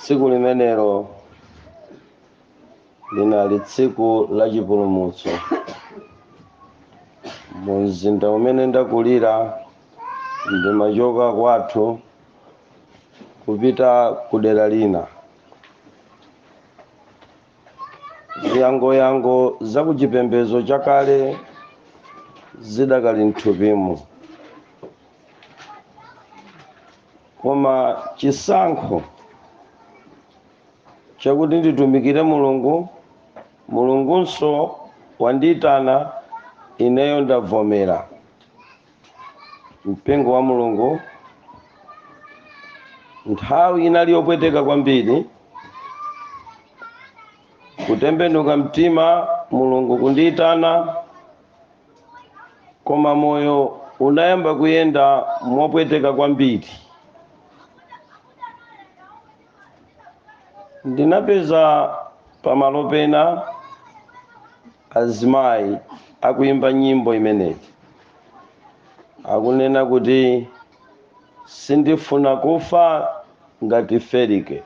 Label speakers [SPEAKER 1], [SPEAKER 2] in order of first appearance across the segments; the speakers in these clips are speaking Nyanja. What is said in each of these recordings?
[SPEAKER 1] tsiku limenelo linali tsiku la chipulumutso mu mzinda umene ndakulira ndimachoka kwathu kupita ku dera lina ziyangoyango za ku chipembedzo chakale zidakali mthupimu koma chisankho chakuti nditumikire mulungu mulungunso wandiyitana ineyo ndavomera mpingo wa mulungu nthawi inali yopweteka kwambiri kutembenuka mtima mulungu kundiyitana koma moyo unayamba kuyenda mopweteka kwambiri ndinapeza pamalo pena Azimayi akuyimba nyimbo imeneyi akunena kuti sindifuna kufa ngati Felike.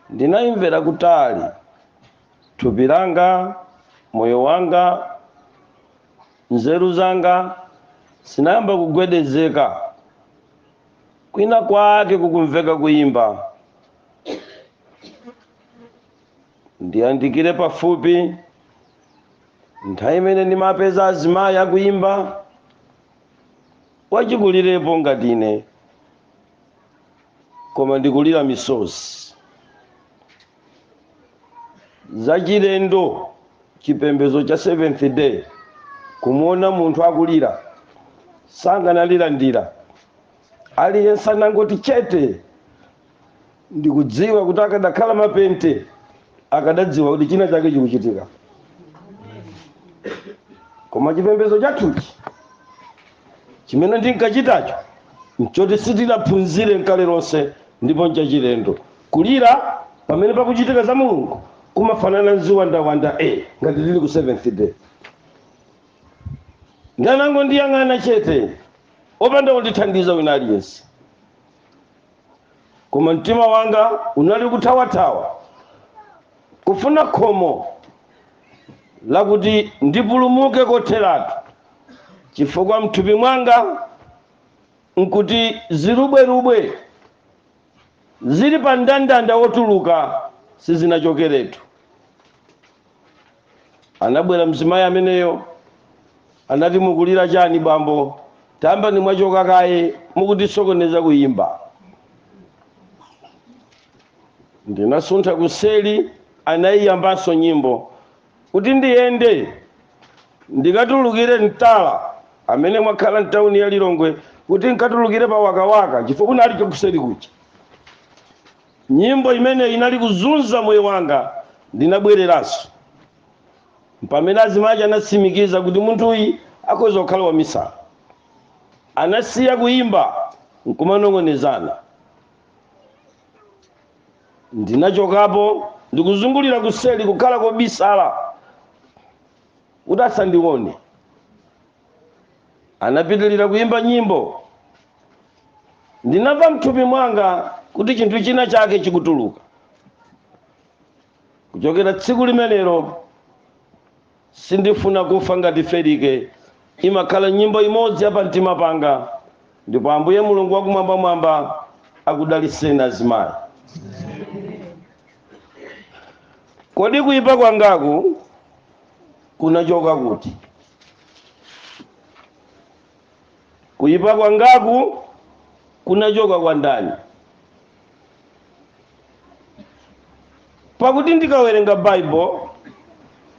[SPEAKER 1] Ndinayimvera kutali, thupi langa, moyo wanga, nzeru zanga zinayamba kugwedezeka. Kwina kwake kukumveka kuyimba. ndiyandikire pafupi nthawi imene ndimapeza azimayi akuyimba wachikulirepo ngati ine koma ndikulira misozi zachilendo chipembedzo cha seventh day kumuona munthu akulira sanganalire ndiye aliyense anangoti chete ndikudziwa kuti akadakhala mapente akadadziwa kuti china chake chikuchitika koma chipembedzo chathuchi chimene ndinkachitacho nchoti sitinaphunzire nkale lomwe ndipo nchachilendo kulira pamene pakuchitika za mulungu kumafanana nziwandawanda e ngati tili ku seventh day anangondiyang'ana chete opanda kundithandiza wina aliyense koma mtima wanga unali kuthawathawa kufuna khomo lakuti ndipulumuke kotheratu chifukwa mthupi mwanga nkuti zirubwerubwe zili pa mndandanda wotuluka sizinachokeretu Anabwera mzimayi ameneyo, anati, Mukulira chani, bambo? Tayamba mwachoka kaye, mukutisokoneza kuyimba. Ndinasuntha kuseri, anayiyambanso nyimbo. Kuti ndiyende ndikatulukire Mtala, amene mwakhala m'tauni ya Lilongwe, kuti nkatulukire pa Wakawaka, chifukwa kunali chakuseri kuja. Nyimbo imeneyi inali kuzunza moyo wanga. Ndinabwereranso. Mpamene azimai aja anatsimikiza kuti munthuyi akhoza kukhala wamisala. Anasiya kuimba n'kumanong'onezana. Ndinachokapo ndikuzungulira kuseri kukhala kobisala kuti asandione. Anapitirira kuimba nyimbo ndinamva mthupi mwanga kuti chinthu china chake chikutuluka kuchokera tsiku limenelo sindifuna kufa ngati felike imakhala nyimbo imodzi yapamtima panga ndipo ambuye mulungu wakumwambamwamba akudaliseni azimayi kodi kuyipa kwangaku kunachoka kuti Kuipa kwangaku kunachoka kwa ndani? Pakuti ndikawerenga Baibulo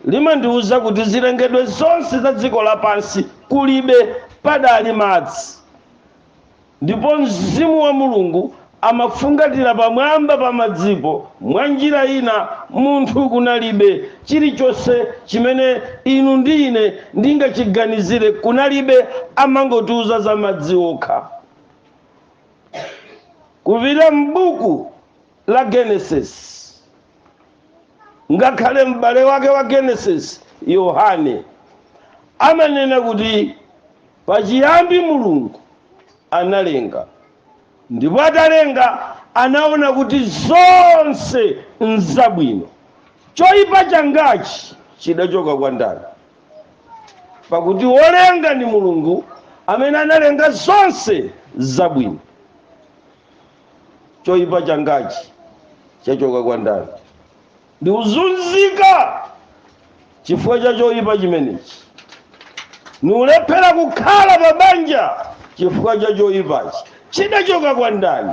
[SPEAKER 1] limandiwuza kuti zilengedwe zonse za dziko lapansi kulibe padali madzi. Ndipo Mzimu wa Mulungu amafungatira pamwamba pa madzipo, mwanjira ina, munthu kunalibe, chirichonse chimene inu ndi ine ndingachiganizire, kunalibe, amangotiuza za madzi okha. Kupita m'Buku la Genesis, ngakhale m'bale wake wa Genesis, Yohane, amanena kuti. Pachiyambi Mulungu analenga, ndipo atalenga anaona kuti zonse nzabwino. Choipa changachi chidachoka kwa ndani? Pakuti wolenga ndi Mulungu amene analenga zonse zabwino. Choipa changachi chachoka kwa ndani? ndikuzunzika chifukwa cha choyipa chimenechi niulephera kukhala pa banja chifukwa cha choyipachi chidachoka kwa ndani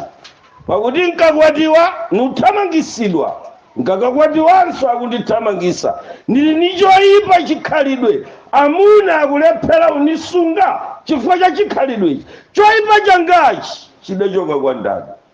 [SPEAKER 1] pakuti nkakwatiwa nuthamangisidwa nkakakwatiwanso akundithamangisa ndili ni choyipa chikhalidwe amuna akulephera unisunga chifukwa cha chikhalidwechi choyipa changachi chidachoka kwa ndani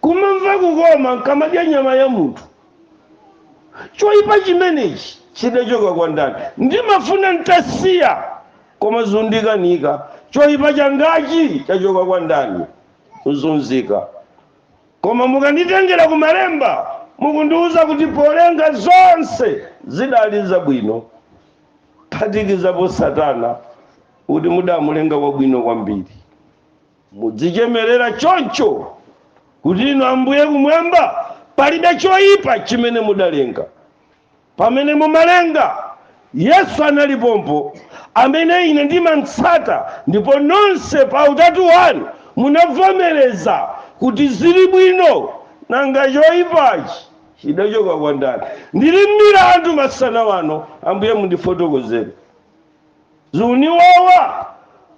[SPEAKER 1] Kumamva kukoma n'kamadya nyama ya munthu. Choipa chimenechi chidachoka kwa ndani? Ndimafuna n'tasiya, koma zundikanika. Choipa changachi chachoka kwa ndani? Kuzunzika. Koma mukanditengera ku Malemba, mukundiuza kuti polenga zonse zidali zabwino, kuphatikizapo Satana, kuti mudamulenga wabwino kwambiri. Mudzichemerera choncho kuti inu Ambuye kumwamba palibe choyipa chimene mudalenga. Pamene mumalenga, Yesu anali pompo, amene ine ndimamtsata, ndipo nonse pa utatu wanu munavomereza kuti ziri bwino. Nanga choyipachi chidachoka kwa ndani? Ndiri m'milandu masana wano, Ambuye mundifotokozere. Zuniwawa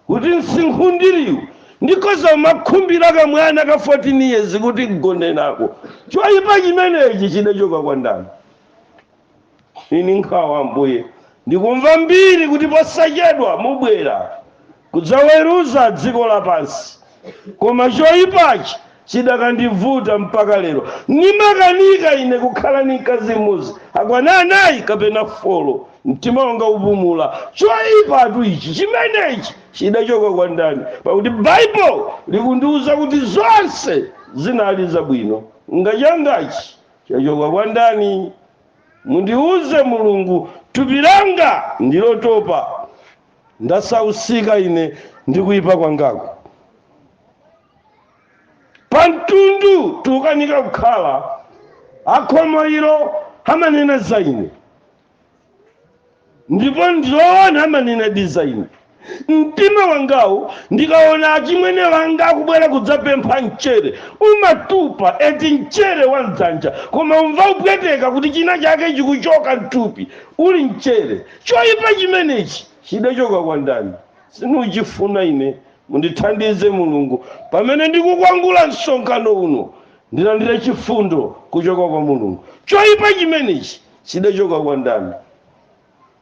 [SPEAKER 1] kuti nsinkhu ndiliwu ndikhoza kumakhumbila kamwana ka 14 years kuti ngonenako. Choipa chimenechi chidachoka kwa ndani? Ini nkhawa ambuye. Ndikumva mbiri kuti posachedwa mubwera kudzaweruza dziko lapansi. koma choyipachi chidakandivuta mpaka lero nimakanika ine kukhala ni mkazi mmodzi akwana anayi kapena folo mtima wanga kupumula choyipatu ichi chimenechi chidachoka kwa ndani pakuti baibulo likundiwuza kuti zonse zinali zabwino nanga changachi chachoka kwa ndani mundiwuze mulungu thupi langa ndilotopa ndasauka ine ndi kuyipa kwangaku pamtundu tukanika kukhala akhomo ilo amanena za ine ndipo ndiloona amanena di za ine mtima wangawu ndikaona achimwene wanga akubwera kudzapempha mchere umatupa eti mchere wa mdzanja koma umva kupweteka kuti china chake chikuchoka mthupi uli mchere Choipa chimenechi chidachoka kwa ndani? Sinuchifuna ine. Mundithandize Mulungu pamene ndikukwangula msonkhano uno. Ndilandire chifundo kuchoka kwa Mulungu. Choipa chimenechi chidachoka kwa ndani?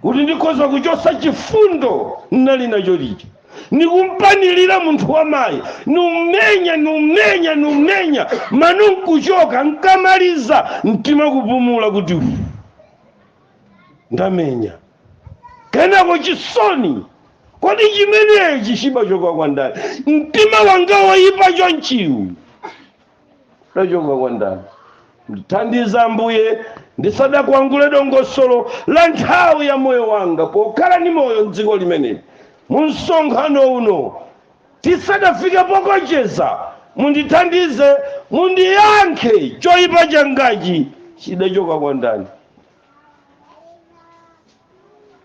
[SPEAKER 1] Kuti ndikhoza kuchotsa chifundo ndinali nacho lija. Nikumpanilira munthu wamayi, numenya, numenya, numenya, mano nkuchoka, nkamaliza mtima kupumula kuti uu. ndamenya kenako chisoni kodi chimenechi chidachoka kwa ndani mtima wanga woyipa chonchiwu udachoka kwa ndani ndithandizeni ambuye ndisadakwangule dongosolo la nthawi ya moyo wanga pokhala ndi moyo mdziko limeneli mu msonkhano uno Tisadafike pokocheza, mundithandize, mundiyankhe, choipa changachi chidachoka kwa ndani?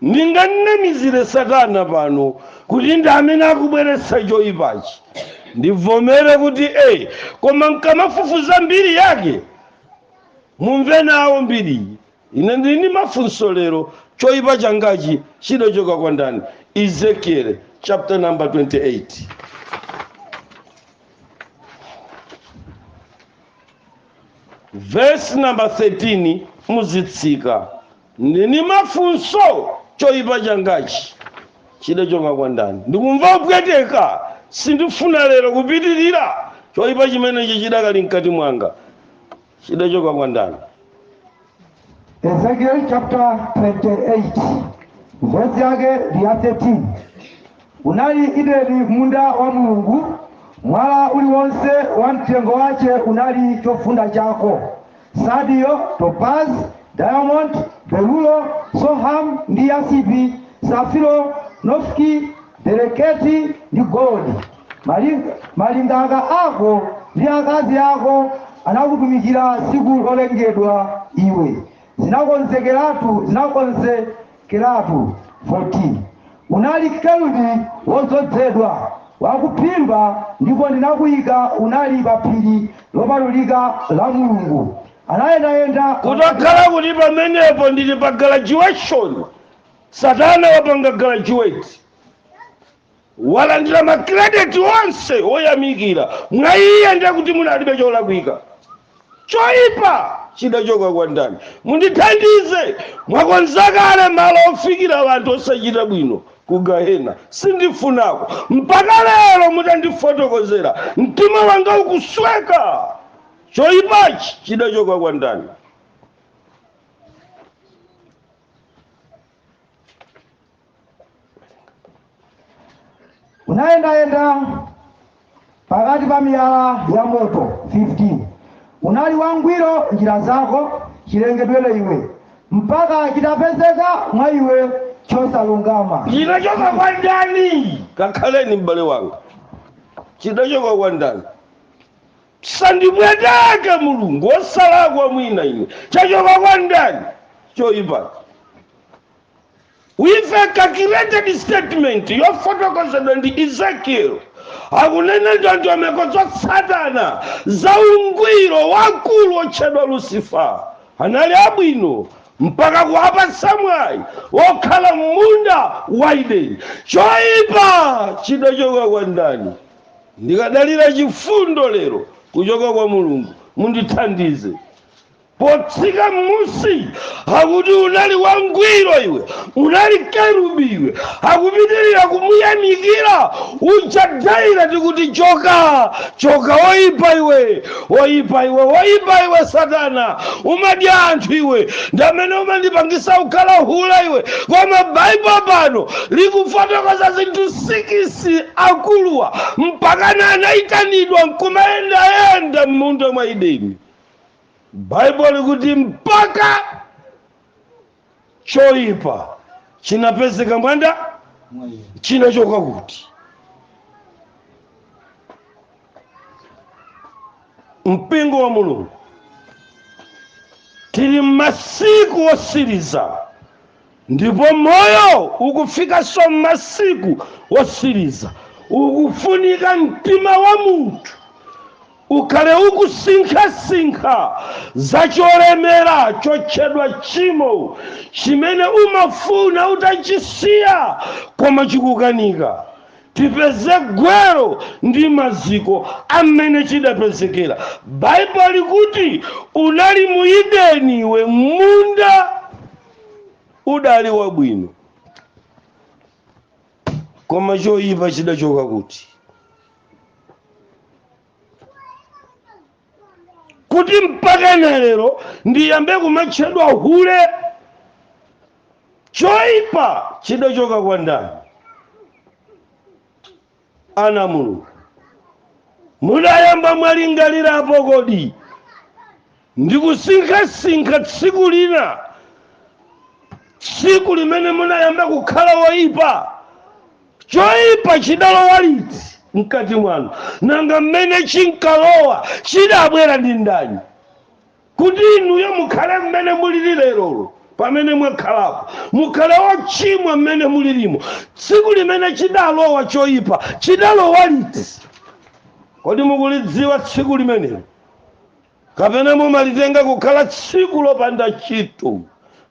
[SPEAKER 1] Ndinganamizire satana pano kuti ndi amene akubweretsa choipachi, ndivomere kuti ee, koma nkamafufuza mbiri yake mumve nawo mbiriyi. ine ndili ndi mafunso lero choyipa changachi chidachoka kwa ndani ezekiel chapter number 28 verse number 13 muzitsika ndili ndi mafunso choyipa changachi chidachoka kwa ndani ndikumva kupweteka sindifuna lero kupitirira choyipa chimenechi chidakali mkati mwanga chidachoka kwa ndani
[SPEAKER 2] Ezekiel chapter 28 verse yake ndi ya 13 unali Edeni munda wa mulungu mwala uliwonse wa mtengo wace unali chofunda chako sadio topaz diamondi berulo soham ndi yasipi safiro nofki bereketi ndi golodi Malingaka ako ndi akazi ako anakutumikira tsiku lolengedwa iwe, zinakonzekeratu zinakonzekeratu 14 Unali kerubi wodzozedwa wakuphimba, ndipo ndinakuyika unali pa phiri lopatulika la Mulungu. Anayendayenda kutakhala kuti
[SPEAKER 1] pamenepo ndili pa graduation satana wapanga graduate walandira ma credit onse woyamikira mwa iye ndiye kuti munalibe cholakwika choipa chidachoka kwa ndani mundithandize mwakonza kale malo ofikira anthu osachita bwino ku gahena sindifunako mpaka lero mutandifotokozera mtima wanga ukusweka choipachi chidachoka kwa ndani
[SPEAKER 2] unayendayenda pakati pa miyala ya moto 15 unali wangwiro m'njira zako chilengedwere iwe mpaka chitapezeka mwa iwe chosalungama chidachoka kwa
[SPEAKER 1] ndani kakhaleni m'bale wanga chidachoka kwa ndani Sandipweteke mulungu osalakwa mwina ine chachoka kwa ndani choipa? With a calculated statement yofotokozedwa ndi Ezekiel akunena ndondomeko za Satana za ungwiro wakulu otchedwa Lucifer anali abwino mpaka kuwapatsa mwawi wokhala m'munda wa Eden. Choipa chidachoka kwa ndani? Ndikadalira chifundo lero kuchoka kwa Mulungu, mundithandize. Potsika m'musi akuti unali wangwiro iwe, unali kerubi iwe, akupitirira kumuyamikira uja timati kuti choka, choka oipa iwe. Woyipa iwe, woyipa iwe Satana, umadya anthu iwe, ndi amene umandipangisa kukhala hule iwe. Koma Baibulo pano likufotokoza zinthu sikisi akuluwa mpakana anayitanidwa nkumayendayenda m'munda mwa Edeni. Baibulo likuti mpaka choyipa chinapezeka mwa ndani chinachoka kuti mpingo wa mulungu tili m'masiku osiriza ndipo moyo ukufikanso m'masiku osiriza ukufunika mtima wa munthu Ukhale ukusinkhasinkha za cholemera chotchedwa tchimo chimene umafuna utachisiya koma chikukanika. Tipeze gwero ndi maziko amene chidapezekera. Bible likuti unali mu Ideni iwe mmunda udali wabwino. koma choyipa chidachoka kuti kuti mpaka na lero ndiyambe kumatchedwa hule choyipa chidachoka kwa ndani ana a mulungu mudayamba mwalingalirapo kodi Ndikusinkhasinkha tsiku lina, tsiku limene munayamba kukhala woipa. Choipa chidalowa liti mkati mwanu? Nanga mmene chinkalowa chidabwera ndi ndani kuti inuyo mukhale mmene mulili lerolo? Pamene mwakhalapo, mukhale ochimwa mmene mulilimo. Tsiku limene chidalowa choipa chidalowa liti? Kodi mukulidziwa tsiku limenelo? kapena mumalitenga kukhala tsiku lopanda ntchito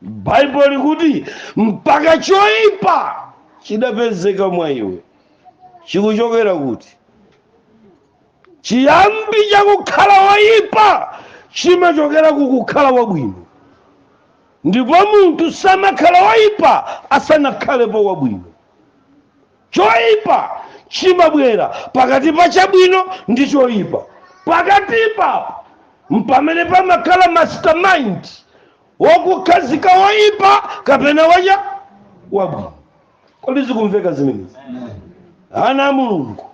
[SPEAKER 1] baibulo likuti mpaka choyipa chidapezeka mwa iwe chikuchokera kuti chiyambi chakukhala woyipa chimachokera kukukhala wabwino ndipo munthu samakhala woyipa asanakhalepo wabwino Choipa chimabwera pakati pa chabwino ndi choipa. Pakatipa mpamene pamakhala mastermind wakukhazika woipa kapena wacha wabwino. Kodi zikumveka zimenezi? Ana a Mulungu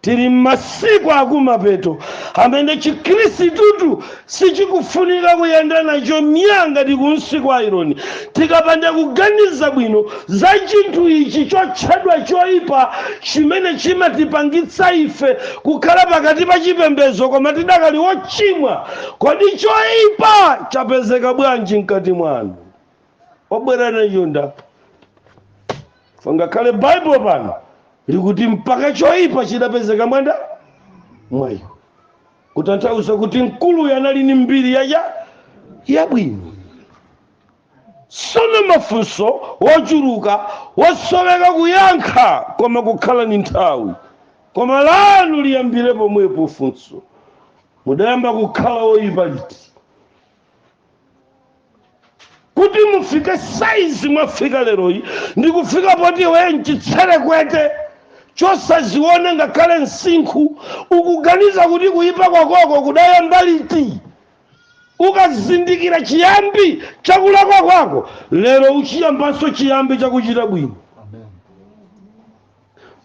[SPEAKER 1] Tili m'masiku akumapeto amene Chikrisitutu sichikufunika kuyenda nacho myaa ngati kunsi kwa ayironi. Tikapanda kuganiza bwino za chinthu ichi chotchedwa choipa chimene chimatipangitsa ife kukhala pakati pa chipembezo koma tidakali ochimwa, kodi choipa chapezeka bwanji mkati mwanu? obwera nacho nda pangakhale baibulo pano likuti mpaka choyipa chidapezeka mwa nda mwa iwo kutanthauza kuti mkuluyo anali ni mbiri yacha yabwino sono mafunso wochuluka wosoweka kuyankha koma kukhala ni nthawi koma lanu liyambire pomwepo funso mudayamba kukhala woyipa liti kuti mufike saizi mwafika leroyi ndi kufika poti iweyo mchitserekwete chosaziona ngakhale msinkhu ukuganiza kuti kuyipa kwakoko kudayamba liti ukazindikira chiyambi chakulakwa kwako lero uchiyambanso chiyambi chakuchita bwino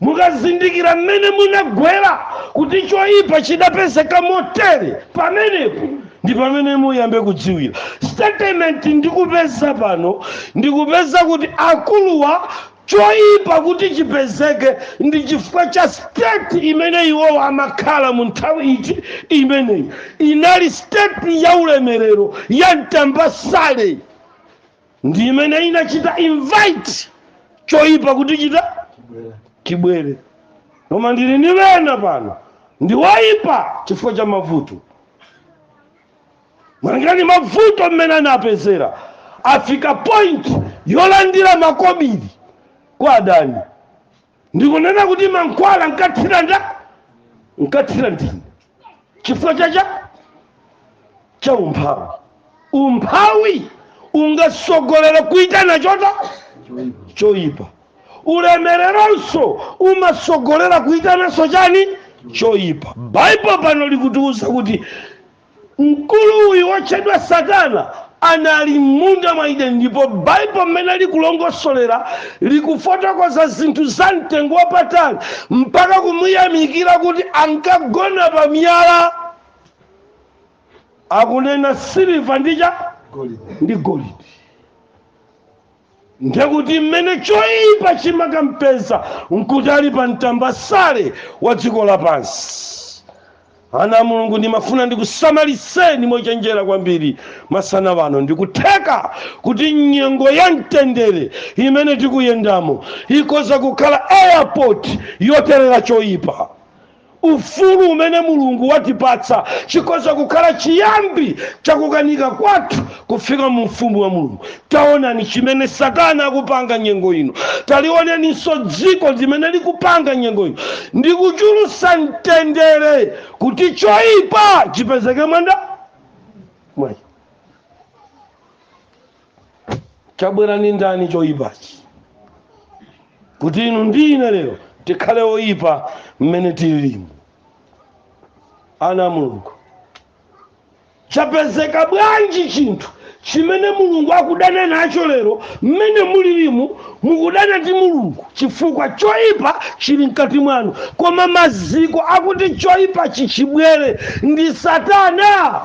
[SPEAKER 1] mukazindikira mmene munagwera kuti choyipa chidapezeka motere pamenepo ndi pamene muyambe kudziwira statement ndikupeza pano ndikupeza kuti akuluwa choyipa kuti chipezeke ndi chifukwa cha state imene iwowo amakhala mu nthawi iti imeneyi inali state ya ulemerero ya mtambasale ndi imene inachita invite choyipa kuti chita chibwere koma ndili ndi ena pano ndi woyipa chifukwa cha mavuto malinga ni mavuto mmene anapezera afika point yolandira makobiri kwa adani ndikunena kuti mankhwala nkathira nda nkathira ndine chifukwa cha cha cha umphawi umphawi ungasogolere kuitana chota choipa ulemereronso umasogolera kuitananso chani choipa baibulo pano likutiuza kuti mkulu uyu wotchedwa satana anali m'munda mwa edeni ndipo baibulo mmene likulongosolera likufotokoza zinthu za mtengo wapatali mpaka kumuyamikira kuti ankagona pa miyala akunena siliva ndi chani ndi golidi ndiye kuti mmene choipa chimakampeza nkuti ali pa mtambasale wa dziko lapansi ana a mulungu ndimafuna ndikusamaliseni mochenjera kwambiri masana wano ndikutheka kuti nyengo ya mtendere imene tikuyendamo ikoza kukhala airport yoterera choipa ufulu umene mulungu watipatsa chikhoza kukhala chiyambi chakukanika kwathu kufika mu ufumu wa mulungu taonani chimene satana akupanga nyengo ino talioneninso dziko limene likupanga nyengo ino ndi kuchulusa mtendere kuti choyipa chipezeke mwanda mwayi chabwera ndi ndani choyipachi kuti inu ndi ine lero tikhale oyipa mmene tililimu ana a mulungu chapezeka bwanji chinthu chimene mulungu akudana nacho lero mmene mulilimu mukudana ndi mulungu chifukwa choyipa chili mkati mwanu koma maziko akuti choyipachi chibwere ndi satana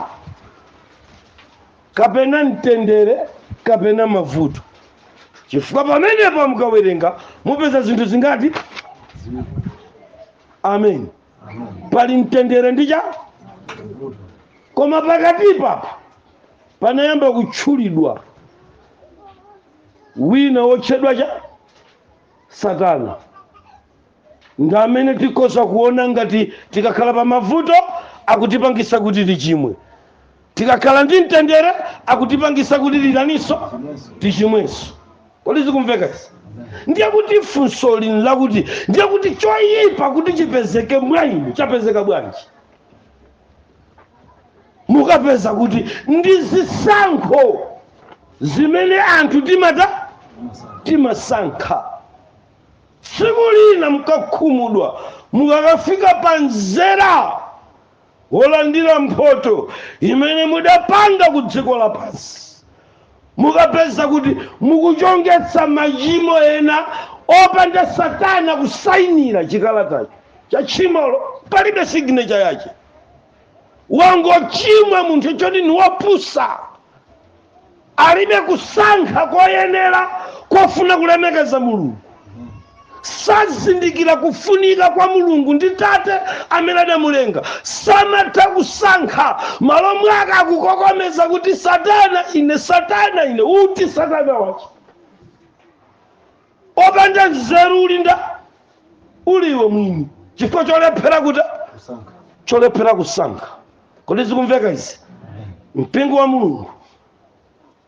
[SPEAKER 1] kapena mtendere kapena mavuto chifukwa pamenepo mukawerenga mupeza zinthu zingati amen pali mtendere ndi chani koma pakatipapa panayamba kutchulidwa wina wotchedwa chani satana ndi amene tikhoza kuona ngati tikakhala pa mavuto akutipangisa kuti tichimwe tikakhala ndi mtendere akutipangisa kuti titaninso tichimwenso kodi zikumveka izi ndiye kuti funso lino lakuti ndiye kuti choyipa kuti chipezeke mwa inu chapezeka bwanji mukapeza kuti ndi zisankho zimene anthu timata timasankha Tsiku lina mukakhumudwa mukakafika pa mzera wolandira mphoto imene mudapanga ku dziko lapansi. Mukapeza kuti mukuchongetsa machimo ena opanda satana kusainira chikalatacho cha tchimolo, palibe signature yache. Wangochimwa munthu choti ni wopusa. alibe kusankha koyenera kofuna kulemekeza mulungu sazindikira kufunika kwa mulungu ndi tate amene adamulenga samatha kusankha m'malo mwake akukokomeza kuti satana ine satana ine uti satana wache wopanda nzeru uli nda uli iwe mwini chifukwa cholephera kuti kusankha cholephera kusankha kodi zikumveka izi mpingo wa mulungu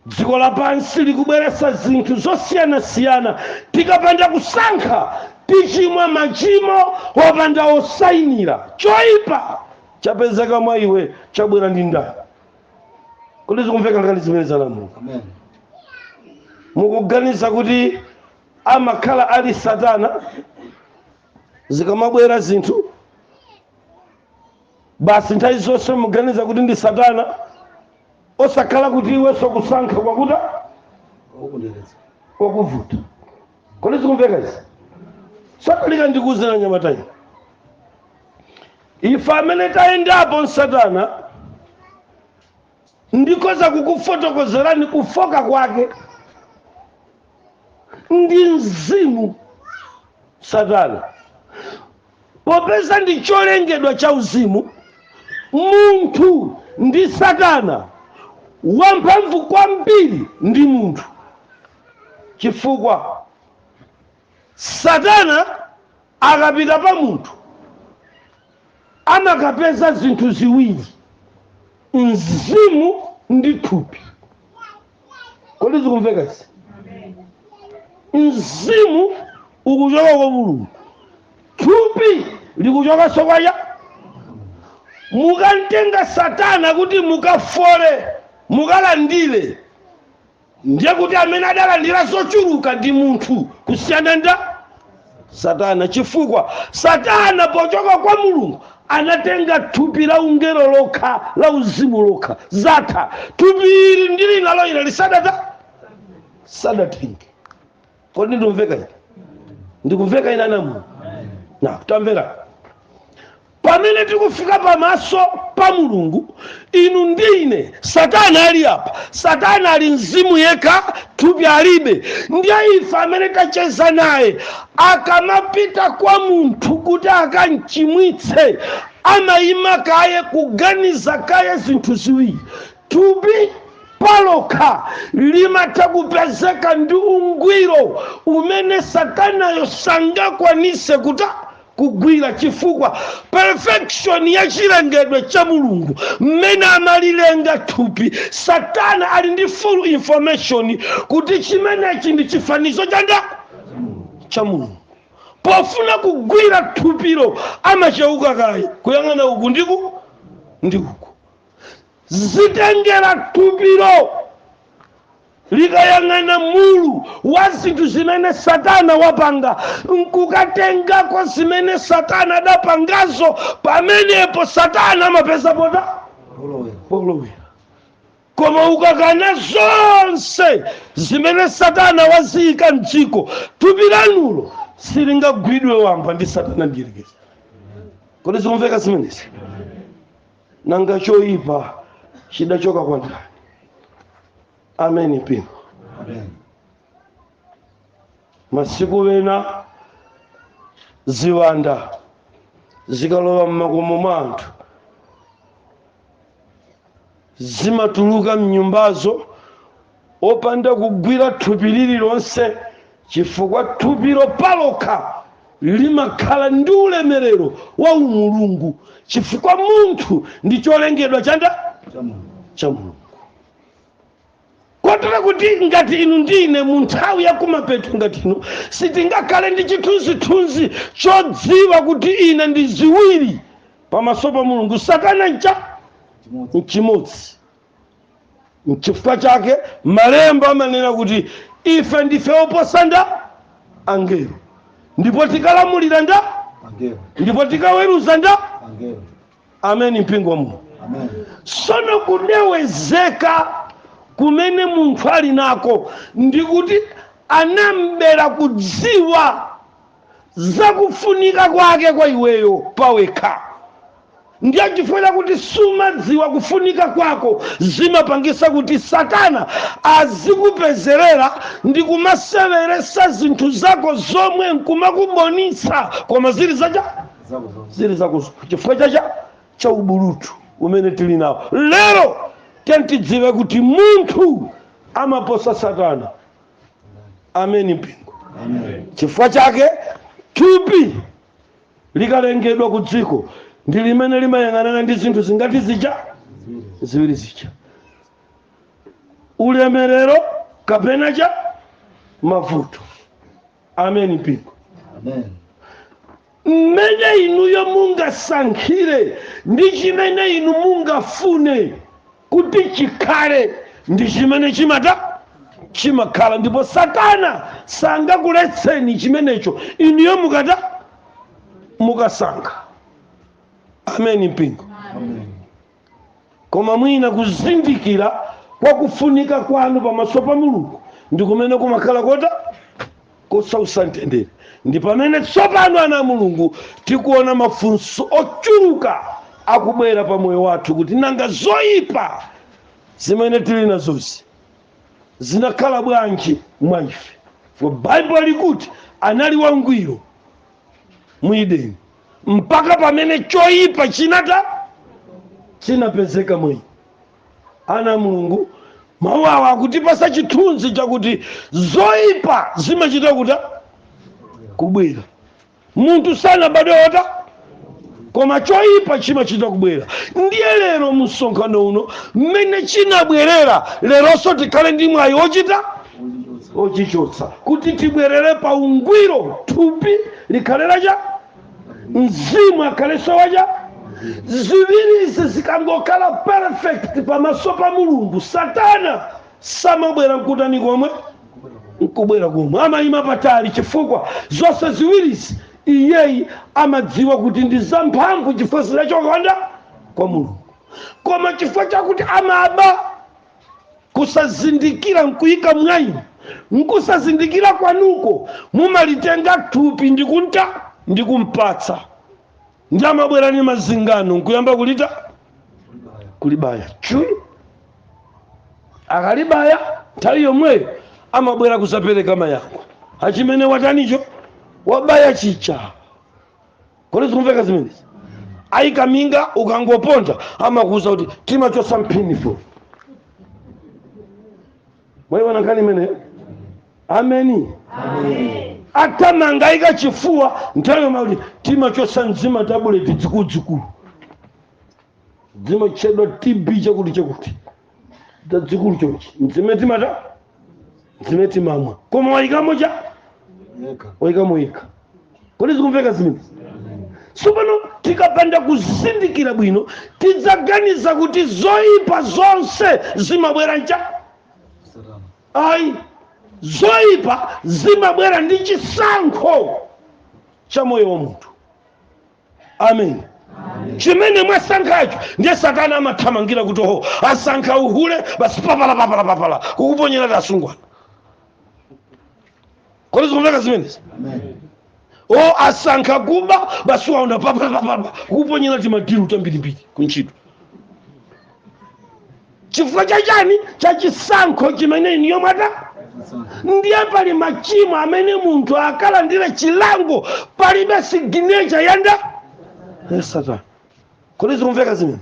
[SPEAKER 1] dziko lapansi likubweretsa zinthu zosiyanasiyana tikapanda kusankha tichimwa machimo opanda osayinira choyipa chapezeka mwa iwe chabwera ndi ndani kodi zikumveka nkhani zimenezi anamu inu mukuganiza kuti amakhala ali satana zikamabwera zinthu basi nthawi zonse muganiza kuti ndi satana osakhala kuti iwenso kusankha kwakuta kwakuvuta kodi zikumveka izi satalika ndikuuzira anyamatawa ife amene tayendapo msatana ndikoza kukufotokozerani kufooka kwake ndi mzimu satana popeza ndi cholengedwa cha uzimu munthu ndi satana wamphamvu kwambiri ndi munthu chifukwa satana akapita pa munthu amakapeza zinthu ziwiri mzimu ndi thupi kodi zikumveka izi mzimu ukuchoka kwa mulungu thupi likuchokanso kwa yani mukamtenga satana kuti mukafole mukalandire ndiye kuti amene adalandira zochuluka ndi munthu kusiyana nda satana chifukwa satana pochoka kwa mulungu anatenga thupi la ungelo lokha la uzimu lokha zatha thupi ili ndili nalo ine ili sadata sadatenge kodi ndikumveka ine ndikumveka ine anamu inu tamvera pamene tikufika pamaso pa mulungu inu ndi ine satana ali apa satana ali mzimu yekha thupi alibe ndiye ife amene tacheza naye akamapita kwa munthu kuti akamchimwitse amayima kaye kuganiza kaye zinthu ziwiri thupi palokha limatha kupezeka ndi ungwiro umene satanayo sangakwanise kuta kugwira chifukwa perfection ya chilengedwe cha mulungu mmene amalilenga thupi satana ali ndi full information kuti chimenechi ndi chifanizo chanda cha mulungu pofuna kugwira thupilo amacheuka kaye kuyang'ana uku ndiku ndi uku Zitengera thupilo likayang'ana mulu wa zinthu zimene satana wapanga nkukatengako zimene satana adapangazo pamenepo satana amapeza pota polowera koma ukakana zonse zimene satana waziyika mdziko thupi lanulo silingagwidwe wamba ndi satana mdyerekezi kodi zikumveka zimenezi nanga choyipa chidachoka kwa ndani ameni mpingo masiku wena ziwanda zikalowa mmakomo mwa anthu zimatuluka mnyumbazo opanda kugwira thupi lililonse chifukwa thupilo palokha limakhala ndi ulemerero wa umulungu chifukwa munthu ndi cholengedwa chanda cha mulungu kotera kuti ngati inu ndi ine mu nthawi ya kumapeto ngati ino sitingakhale ndi chithunzithunzi chodziwa kuti ine ndi ziwiri pamaso pa mulungu satana ncha nchimodzi nchifukwa chake malemba amanena kuti ife ndife oposa nda angelo ndipo tikalamulira nda Angelo. ndipo tikaweruza nda Angelo. ameni mpingo wa mulungu Amen. sono kudewezeka kumene munthu ali nako ndikuti anam'bera kudziwa zakufunika kwake kwa iweyo pawekha ndiye chifukwa chakuti sumadziwa kufunika kwako zimapangisa kuti satana azikupezerera ndi kumaseweresa zinthu zako zomwe nkumakubonisa koma zili zacha zili zakozo chifukwa chacha cha ubulutu umene tili nawo lero tiyeni tidziwe kuti munthu amaposa satana ameni mpingo chifukwa chake thupi likalengedwa ku dziko ndi limene limayang'anana ndi zinthu zingati zija ziwiri zija ulemerero kapena cha mavuto ameni mpingo Amen. mmene inuyo mungasankhire ndi chimene inu mungafune kuti chikhale ndi chimene chimata chimakhala ndipo satana sangakuletseni chimenecho inuyo mukata mukasankha ameni mpingo Amen. koma mwina kuzindikira kwa kufunika kwanu pamaso pa mulungu ndi kumene kumakhala kota kosausa mtendere ndi pamene tsopano ana a mulungu tikuona mafunso ochuluka akubwera pa moyo wathu kuti nanga zoyipa zimene tili nazozi zinakhala bwanji mwa ife for bible likuti anali wangwiro mu edeni mpaka pamene choyipa chinata chinapezeka mwa iye ana a mulungu mawu awa akutipasa chithunzi chakuti zoyipa zimachita kuta kubwera munthu sanabadwe wota koma choyipa chimachita kubwera ndiye lero mumsonkhano uno mmene chinabwerera leronso tikhale ndi mwayi ochita ochichotsa kuti tibwerere pa ungwiro thupi likhale lacha mzimu akhalenso wacha ziwirizi zikangokhala perfect pamaso pa mulungu satana samabwera nkutani komwe nkubwera komwe amayima patali chifukwa zonse ziwirizi iyeyi amadziwa kuti ndi zamphamvu chifukwa zinachoka kwa nda kwa mulungu koma chifukwa chakuti amaba kusazindikira nkuyika mwayi mkusazindikira kwanuko mumalitenga thupi ndikunta ndikumpatsa ndiye amabwera ndi mazingano nkuyamba kulita kulibaya chuyu akalibaya nthawi yomweyo amabwera kuzapereka mayankho achimene watanicho wabaya chicha kodi zikumveka zimenezi ayika minga ukangoponda amakuuza kuti timachosa mphinifolo mwaiona nkhani imeneyo ameni athamanga ayika chifuwa nthawi yomweyo akuti timachosa ndi zimatabuleti dzikuludzikulu zimatchedwa tb chakuti chakuti zazikulu chonchi nzimene timata nzimene timamwa koma wayikamo cha wayikamo yekha kodi zikumveka zimenezi tsopano tikapanda kuzindikira bwino tidzaganiza kuti zoyipa zonse zimabwera ncha ayi zoyipa zimabwera ndi chisankho cha moyo wa munthu amen chimene mwasankhacho ndiye satana amathamangira kuti oho asankha uhule basi papala papala papala kukuponyera tiasungwana kodi zikumveka zimenezi o asankha kuba basi waunda papala papala kukuponyera timadiru tambirimbiri kuntchito chifukwa cha chani cha chisankho chimene iniyo mwata ndiye pali machimo amene munthu akalandira chilango palibe siginecha yanda ya satana kodi zikumveka zimene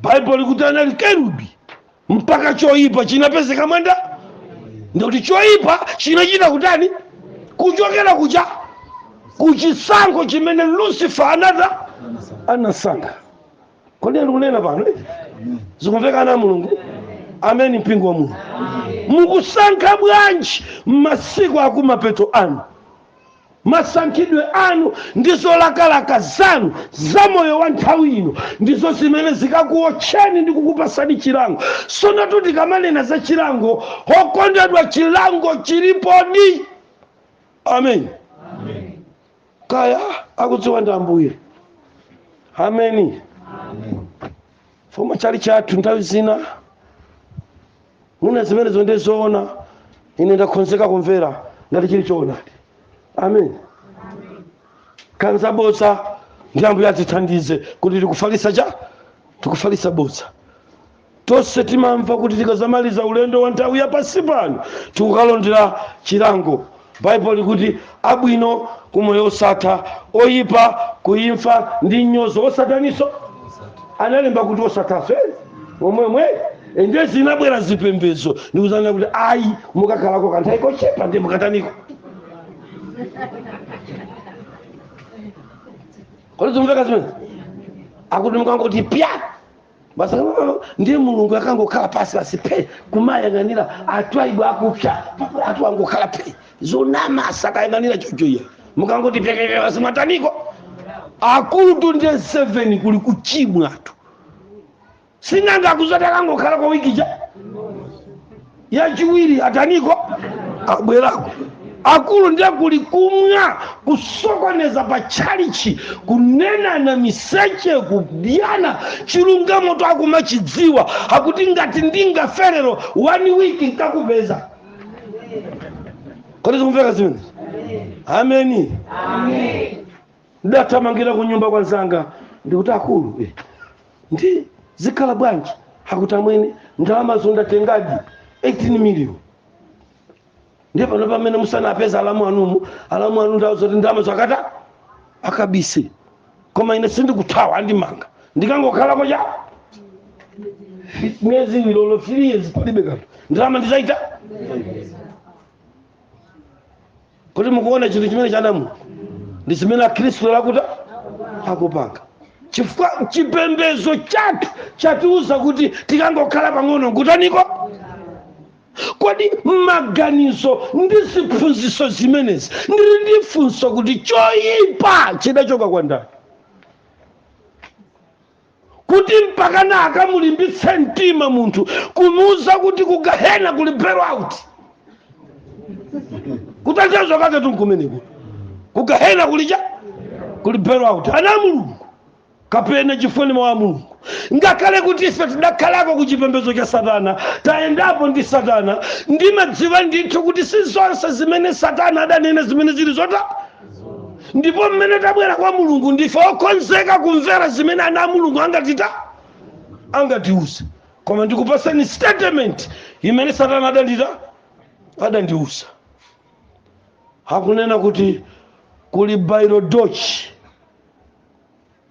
[SPEAKER 1] baibulo likuti anali kerubi mpaka choyipa chinapezeka mwanda ndikuti choyipa chinachita kutani kuchokera kucha kuchisankho chimene lucifer anata anasankha kodi ndikunena pano eh? zikumveka ana a mulungu ameni mpingo wa mulungu mukusankha bwanji masiku akumapeto ano masankhidwe anu ndi zolakalaka zanu za moyo wa nthawi ino ndizo zimene zikakuotcheni ndi kukupasani chilango sonatu tikamanena za chilango okondedwa chilango chilipodi amen kaya akudziwa ndi ambuye ameni foma chali chathu nthawi zina mwina zimenezo ndi zoona ine ndakhonzeka kumvera ngati chili choonadi amen kanza bodza ndi ambuye atithandize kuti tikufalitsa cha tikufalitsa bodza Tonse timamva kuti tikadzamaliza ulendo wa nthawi ya pansi pano, tikukalondera chilango. Baibulo likuti, Abwino ku moyo wosatha, oyipa ku imfa ndi mnyozo wosataniso? Analemba kuti wosathaso, eh? Momwemwe? Ende zinabwera zipembedzo ndikuzati kuti ayi mukakhalako kanthawi kochepa ndiye mukataniko. Kodi zimveka zimene? Akuti mukangoti pya basi mm, ndiye mulungu akangokhala basi basi phe kumayang'anira anthu aiwo akupsa anthu angokhala phe zonama asakayang'anira choncho iya mukangoti pekekeke basi mwataniko akutu ndiye 7 kuli kuchimwa tu sinanga akuzati akangokhala kwa wiki cha yachiwiri ataniko abwerako akulu ndiye kuli kumwa kusokoneza pa tchalichi kunenana miseche kudyana chilungamo akumachidziwa akuti ngati ndingaferero one week nkakupeza kodi zikumveka zimene ameni Amen. Ndidathamangira kunyumba kwa nzanga ndikuti akulu eh, ndi zikhala bwanji akuti amwene ndalamazo ndatengadi 18 million ndiye pano pamene musanapeze alamu anumu alamu anu ndawauza zoti ndalamazo akata akabise koma ine sindikuthawa andimanga ndikangokhalako cha miyezi olo 3 years palibe kanthu ndalama ndizaita kuti mukuona chinthu chimene chanama ndi chimene akhristu lerotu akupanga chifukwa chipembedzo chathu chatiuza kuti tikangokhala pang'ono nkutaniko kodi maganizo ndi ziphunzitso zimenezi ndili ndi funso kuti choyipa chidachoka kwa ndani kuti mpakana akamulimbitse mtima munthu kumuuza kuti kugahena kuli bailout kutanthauza kake tunkumeneko kugahena kuli cha kuli bailout ana a mulungu kapena chifukwa ndi mawu a mulungu ngakhale kuti ife tidakhalako ku chipembedzo cha satana tayendapo ndi satana ndimadziwa ndithu kuti si zonse zimene satana adanena zimene zili zoona ndipo mmene tabwera kwa mulungu ndife okonzeka kumvera zimene ana a mulungu angatita angatiuze koma ndikupatsani statement imene satana adandita adandiuza akunena kuti kuli bairodoji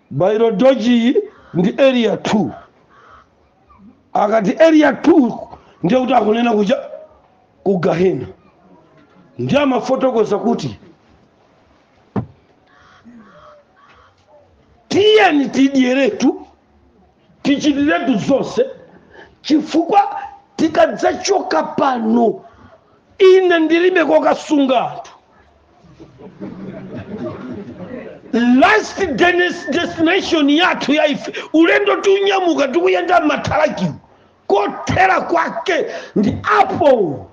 [SPEAKER 1] Bairodoji ndi Area 2. Akati Area 2 ndiye kuti akunena kuja ku Gahena. Ndiye amafotokoza kuti tiyeni tidyeretu tichitiretu zonse chifukwa tikadzachoka pano ine ndilibe kokasungira anthu last denis- destination yathu ya ife ulendo tinyamuka tikuyenda m'mathalakimo kothera kwake ndi apo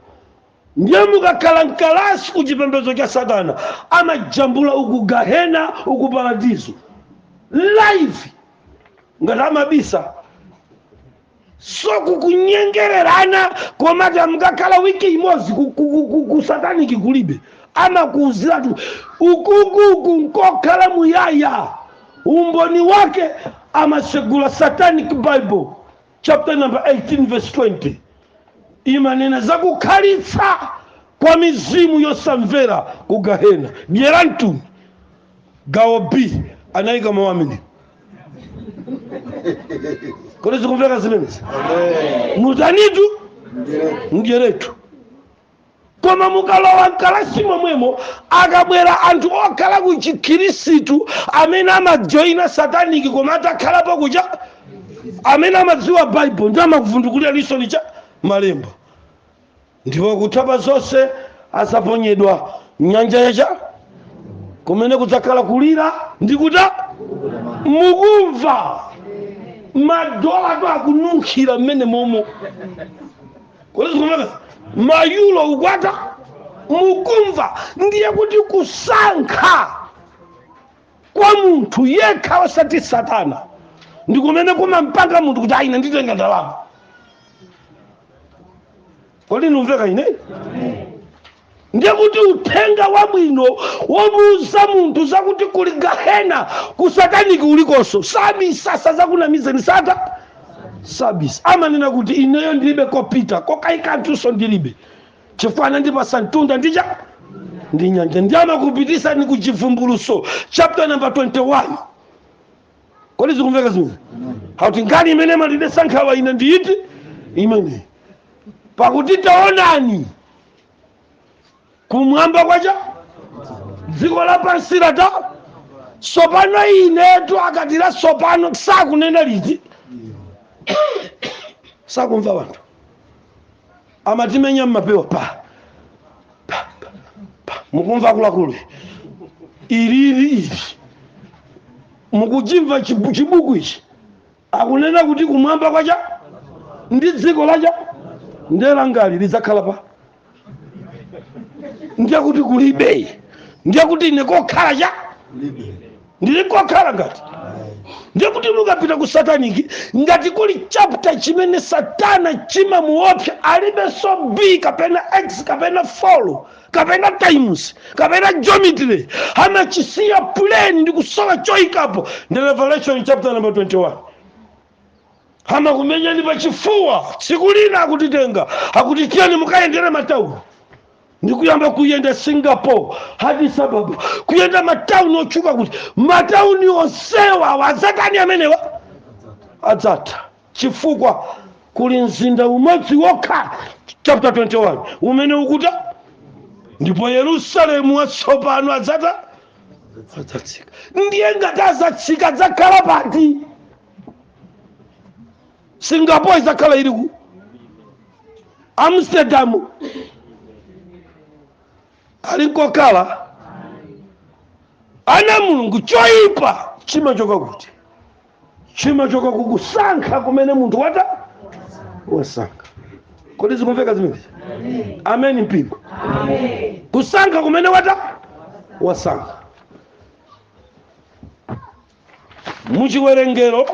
[SPEAKER 1] ndiye mukakhala mkalasi ku chipembedzo cha satana amajambula uku gahena uku paradizo live osati amabisa so kukunyengererana koma mukakhala wiki imodzi ku- ku- ku- ku- ku sataniki kulibe amakuuziratu uku uku nkokhala muyaya umboni wake amasegula satanic bible chapter number 18 verse 20 imanena za kukhalitsa kwa mizimu yosamvera ku gahena dyeratuni gawo b anayika mawu amene kodi zikumveka zimenezi mutanitu mdyeretu koma mukalowa mkalasi momwemo akabwera anthu okhala ku chikhirisitu amene amajoyina sataniki koma atakhalapo ku cha amene amadziwa baibulo ndi amakuvundukulira lisoni cha malemba ndipo kutha pa zonse azaponyedwa nyanja ya cha kumene kudzakhala kulira ndi kuta mukumva madolatu akununkhira mmene momo kodi zikumveka mayulo ukwata mukumva ndiye kuti kusankha kwa munthu yekha osati satana ndi kumene kumampanga munthu kuti ayi nditenga ndalama kodi ndikumveka ine ndiye kuti uthenga wabwino womuuza munthu zakuti kuli gahena ku sataniki kulikonso sabisa sazakunamizeni sata sabisa amanena kuti ineyo ndilibe kopita kokaika mutunso ndilibe chifukwa anandipasa mtunda ndi cha ndi nyanja ndiye amakupitisani ku chivumbuluso chapter number 21 kodi zikumveka zimene akuti nkhani imene imandidesa nkhawa ine ndi iti imene pakuti taonani kumwamba kwa cha dziko lapansi lata sopano inetu akati lasopano sakunena liti sakumva wanthu amatimenya mmapewa pa pa pa pa mukumva akuluakulu ilili ili mukuchimva chibu- chibuku ichi akunena kuti kumwamba kwa cha ndi dziko la cha ndiye langali lidzakhala pa ndiye kuti kulibe ndiye kuti ine kokhala cha ndili kokhala ngati ndiye kuti mukapita ku sataniki ngati kuli chapter chimene satana chimamuopsa alibenso b kapena x kapena 4 kapena times kapena geometry amachisiya plain ndi kusowa choikapo ndi revelation chapter number 21 amakumenyani pachifuwa tsiku lina akutitenga akuti tiyeni mukayendere matauni ndikuyamba kuyenda singapore addis ababa kuyenda matauni otchuka kuti matauni onsewa awa azatani amenewa adzatha chifukwa kuli mzinda umodzi wokha chapter 21 umene ukuta ndipo yerusalemu watsopano adzata adzatsika ndiye ngati azatsika adzakhala pati singapore idzakhala ili ku amsterdam ali nkokhala ana a mulungu choyipa chimachoka kuti chimachoka kukusankha kumene munthu wata wasankha kodi zikumveka zimenezi ameni mpingo kusankha kumene wata wasankha muchiwerengero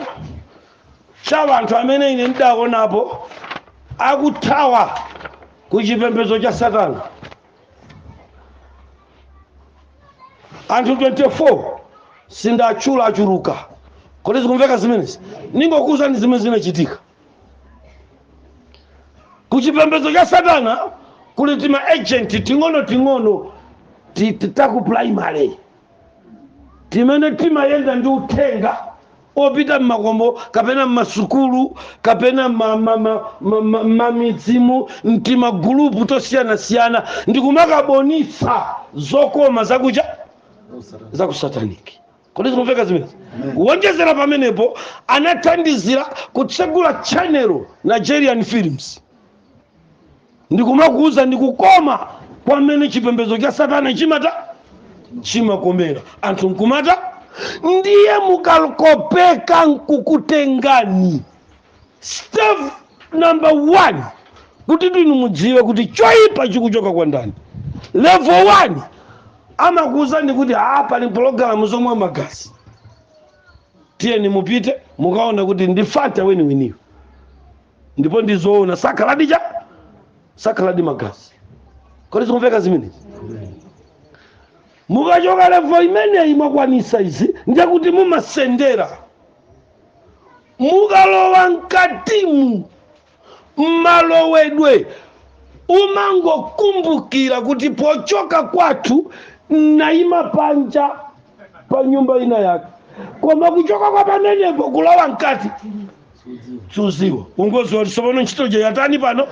[SPEAKER 1] cha anthu amene ine ndidaonapo akuthawa ku chipembedzo cha satana anthu 24 sindatchula achuluka kodi zikumveka zimenezi ningokuwuzani zimene zinachitika ku chipembedzo cha satana kuli tima agent ting'ono ting'ono ti- ti- taku primary timene timayenda ndi uthenga opita m'makomo kapena m'masukulu kapena m'mamidzimu timagulupu tosiyanasiyana ndi kumakabonitsa zokoma zakuja za kusataniki kodi zikumveka zimenezi kuwonjezera pamenepo anathandizira kutsegula chanelo nigerian films ndikumakuuza ndi kukoma kwa mmene chipembedzo cha satana chimata chimakomera anthu nkumata ndiye mukakopeka nkukutengani step number one kuti inu mudziwe kuti choyipa chikuchoka kwa ndani level one amakuuzani kuti a pali pologalamu zomwa magazi tiyeni mupite mukaona kuti ndi fanta weniweniyo ndipo ndi zoona sakhaladi ja sakhaladi magazi kodi zikumveka zimenezi mukachoka levo imeneyi mwakwanisa izi ndiye kuti mumasendera mukalowa mkatimu mmalowedwe umangokumbukira kuti pochoka kwathu nayima panja pa nyumba ina yake koma kuchoka kwa pamenepo kulowa mkati suziwa ungoziwa kuti tsopano ntchito ija yatani pano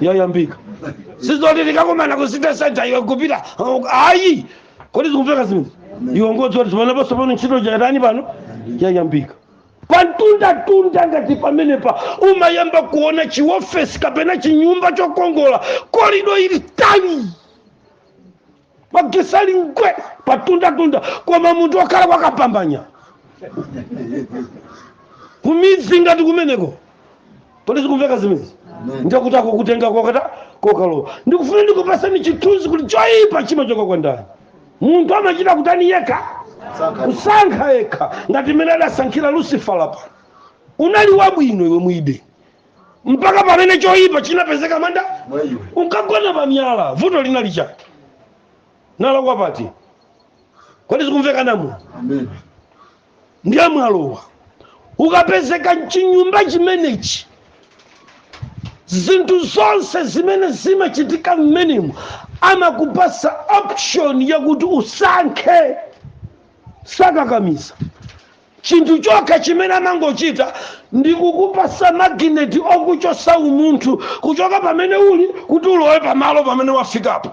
[SPEAKER 1] yayambika sizoti tikakumana ku city center iwe kupita uh, ayi kodi zikumveka zimene iwe ungoziwa kuti tsopano ntchito ija yatani pano yayambika pantundatunda ngati pamenepa umayamba kuona chiofesi kapena chinyumba chokongola korido ili tani magetsi ali ngwe pamtundatunda koma munthu okhala kwakapambanya kumidzi ngati kumeneko kodi zikumveka zimenezi ndikuti akukutenga kokata kokalowa ndikufuna ndikupasani chithunzi kuti choyipa chimachoka kwa ndani munthu amachita kutani yekha kusankha yekha ngati mmene adasankhira lucifer apa unali wabwino iwe mwide mpaka pamene choyipa chinapezeka mwa nda mwa iwe unkagona pa miyala vuto linali chani nalakwa pati kodi zikumveka namu amen ndiye mwalowa ukapezeka mchinyumba chimenechi zinthu zonse zimene zimachitika mmenemo amakupasa option yakuti usankhe sakakamiza Chinthu chokha chimene amangochita ndi kukupatsa magineti okuchotsa umunthu kuchoka pamene uli kuti ulowe pamalo pamene wafikapo.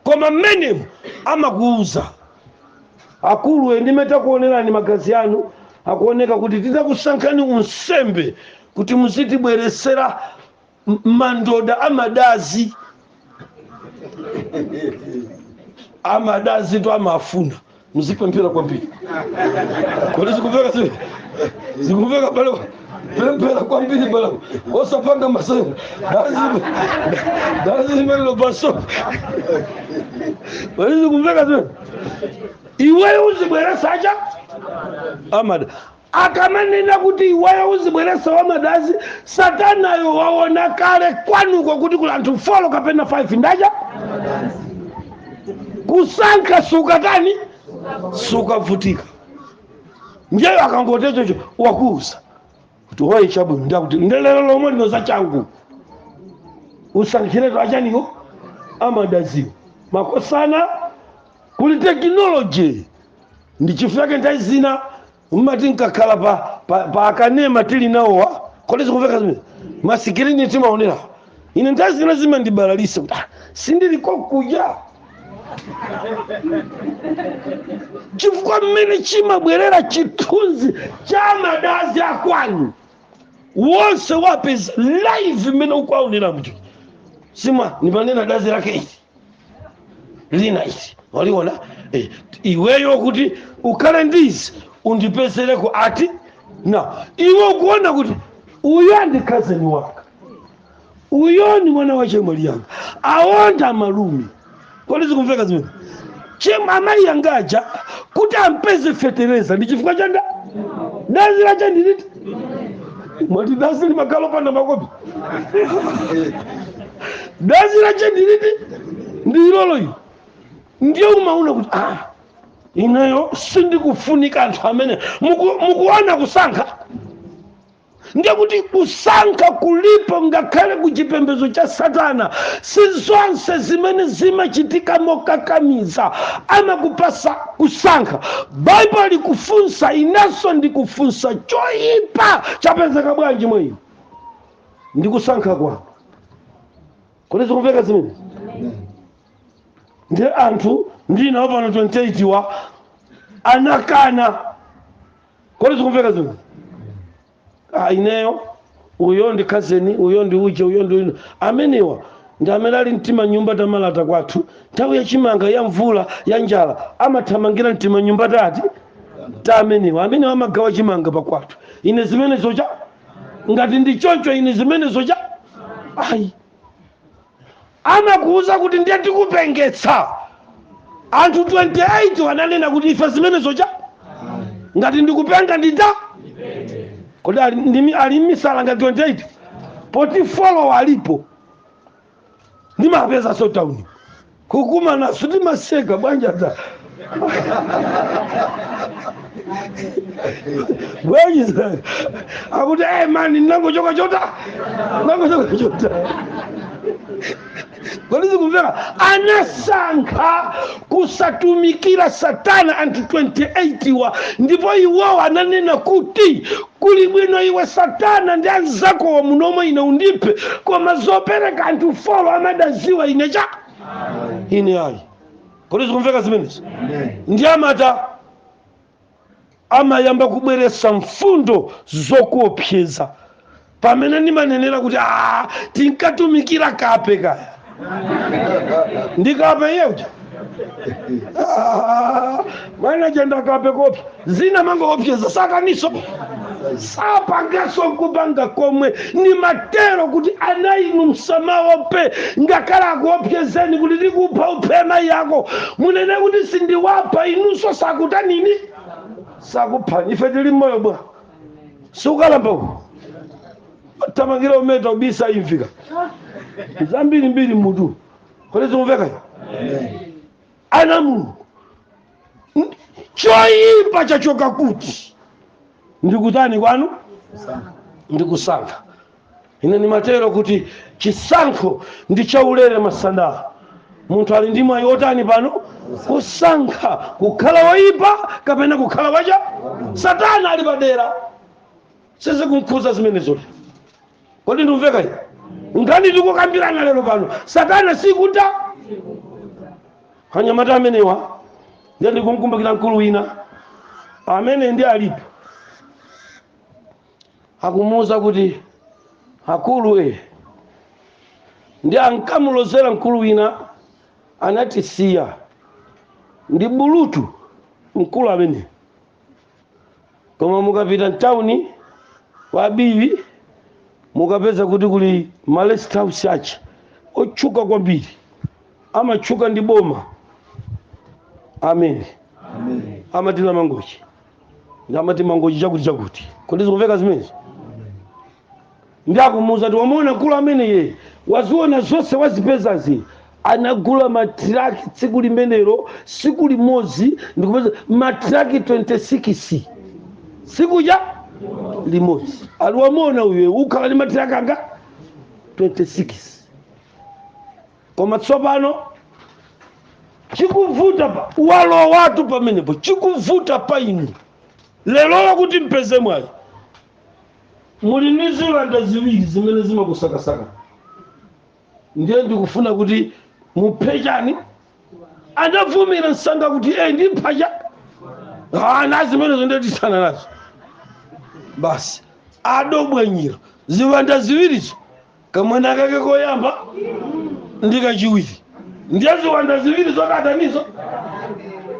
[SPEAKER 1] Koma mmenemo, amakuuza, Akulu, ndi mmene takuonerani magazi anu, akuoneka kuti titakusankhani unsembe kuti muzitibweretsera M- mandoda amadazi amadazi to amafuna muzipemphera kwambiri kodi zikumveka zi- zikumveka pale pemphera kwambiri pale osapanga masewera dazi dazi limenelo paso kodi zikumveka zi iweyo uzibweresa acha amada Akamanena kuti iweyo uzibweretsa wamadazi, satanayo waona kale kwanuko kuti kuli anthu 4 kapena 5 ndacha kusankha sukatani sukavutika ndiyeyo akangoti choncho wakuuza kuti oye chabwino nde akuti nde lero lomwe lino za changu usankhiretu achaniwo amadaziwo makosana kuli tekinoloji ndi chifukwa chake nthawi zina mmati nkakhala pa, pa, pa akanema tili nawowa kodi zikumveka zimene masikirini timaonera ine nthawi zina zimandibalalisa kuti "Ah, sindili kokuja chifukwa mmene chimabwerera chithunzi cha madazi akwanu wonse wapeza live mmene ukwaonera mtu sima nimanena dazi lake izi lina izi waliona eh, iweyo kuti ukhale ndizi undipezereko ati na iwe ukuona kuti uyo ndi khazeni wanga uyo ni mwana wa chemwali yanga awonda malume kodi zikumveka zimene chem amayi anga aja kuti ampeze fetereza ndi chifukwa cha nda dazi lacha ndi liti mwati dazi limakhala opanda makobi dazi lacha ndi liti ndi ilolo ilo ndiye umaona kuti ah, ineyo sindikufunika anthu amene muku- mukuona kusankha ndiye kuti kusankha kulipo ngakhale ku chipembedzo cha satana si zonse zimene zimachitika mokakamiza amakupasa kusankha baibulo likufunsa inenso ndikufunsa choyipa chapezeka bwanji mwa iwe ndi kusankha kwako kodi zikumveka zimenezi ndiye anthu ndinawo pano 28 wa anakana kodi zikumveka zimenezi ah, ineyo uyo ndi khazeni uyo ndi uje uyo ndi amenewa ndi amene ali m'timanyumba tamalata kwathu nthawi ya chimanga ya mvula ya njala amathamangira m'timanyumba tati timenewa amenewa amagawa chimanga pakwathu ine zimenezo cha ngati ndi choncho ine zimenezo cha ayi amakuuza kuti ndiye tikupengetsa anthu 28 ananena kuti ife zimenezo cha ngati ndikupenga ndita kodi ali ndimi- ali m'misala ngati 28 24 alipo ndimawapezaso town kukumana timaseka bwanji adza bwanji za- akuti hey mani ndinangochoka chota ndinangochoka chota kodi zikumveka anasankha kusatumikira Satana anthu 28 wa ndipo iwowo ananena kuti Kuli bwino iwe satana ndi anzakowa munomo ine undiphe koma zopereka anthu folo owadziwa ine cha ine ayi kodi zikumveka zimenezi ndiye amata amayamba kubweretsa mfundo zokuopseza pamene ndimanenera kuti "Ah, tinkatumikira kape kaya ndi kape iye uja Ah, mwana uja ndi kape kuopsya zija amangoopseza satananso sapanganso nkupanga komwe nimatero kuti ana inu musamaope ngakhale akuopsezeni kuti tikupha uphe mayi ako munene kuti sindiwapha inunso sakutanini sakuphani ife tili moyo bwa sukalamba uku thamangira umeta ubisa imvi zambirimbiri m'mutu kodi zikumveka ana a Mulungu N- choyipa chachoka kuti ndikutani kwanu ndikusankha ine ndimatero kuti chisankho ndi chaulere masana munthu ali ndi mwayi otani pano kusankha kukhala woyipa kapena kukhala wachani satana ali padera sizikumkhudza zimenezo kodi ndikumveka ine nkhani tikukambirana lero pano satana sikuta anyamata amenewa ndiye ndikumkumbukira mkulu wina amene ndi alipo akumuuza kuti akulu e ndi ankamulozera mkulu wina anatisiya ndi bulutu mkulu amene koma mukapita mtawuni kwa abiyi mukapeza kuti kuli ma rest house ake otchuka kwambiri amatchuka ndi boma amene amati la mangochi ndi amati mangochi chakuti chakuti kodi zikumveka zimenezi ndi akumuuza kuti wamuona mkulu ameneye waziona zonse wazipezazi anagula matiraki tsiku limenelo tsiku limodzi ndikupeza matiraki 26 tsiku ja limodzi ali wamuona uyu ukhala ndi matiraki anga 26 koma tsopano chikuvuta apa walowatu pamenepo chikuvuta pa inu lero kuti mupeze mwayi muli ndi ziwanda ziwiri zimene zimakusakasaka ndiye ndikufuna kuti muphe chani anavomera msanga kuti e ndipha chani zimenezo nde tithana nazo basi adaphwanyira ziwanda ziwirizo kamwana kake koyamba ndi kachiwiri ndiye ziwanda ziwiri zokatanizo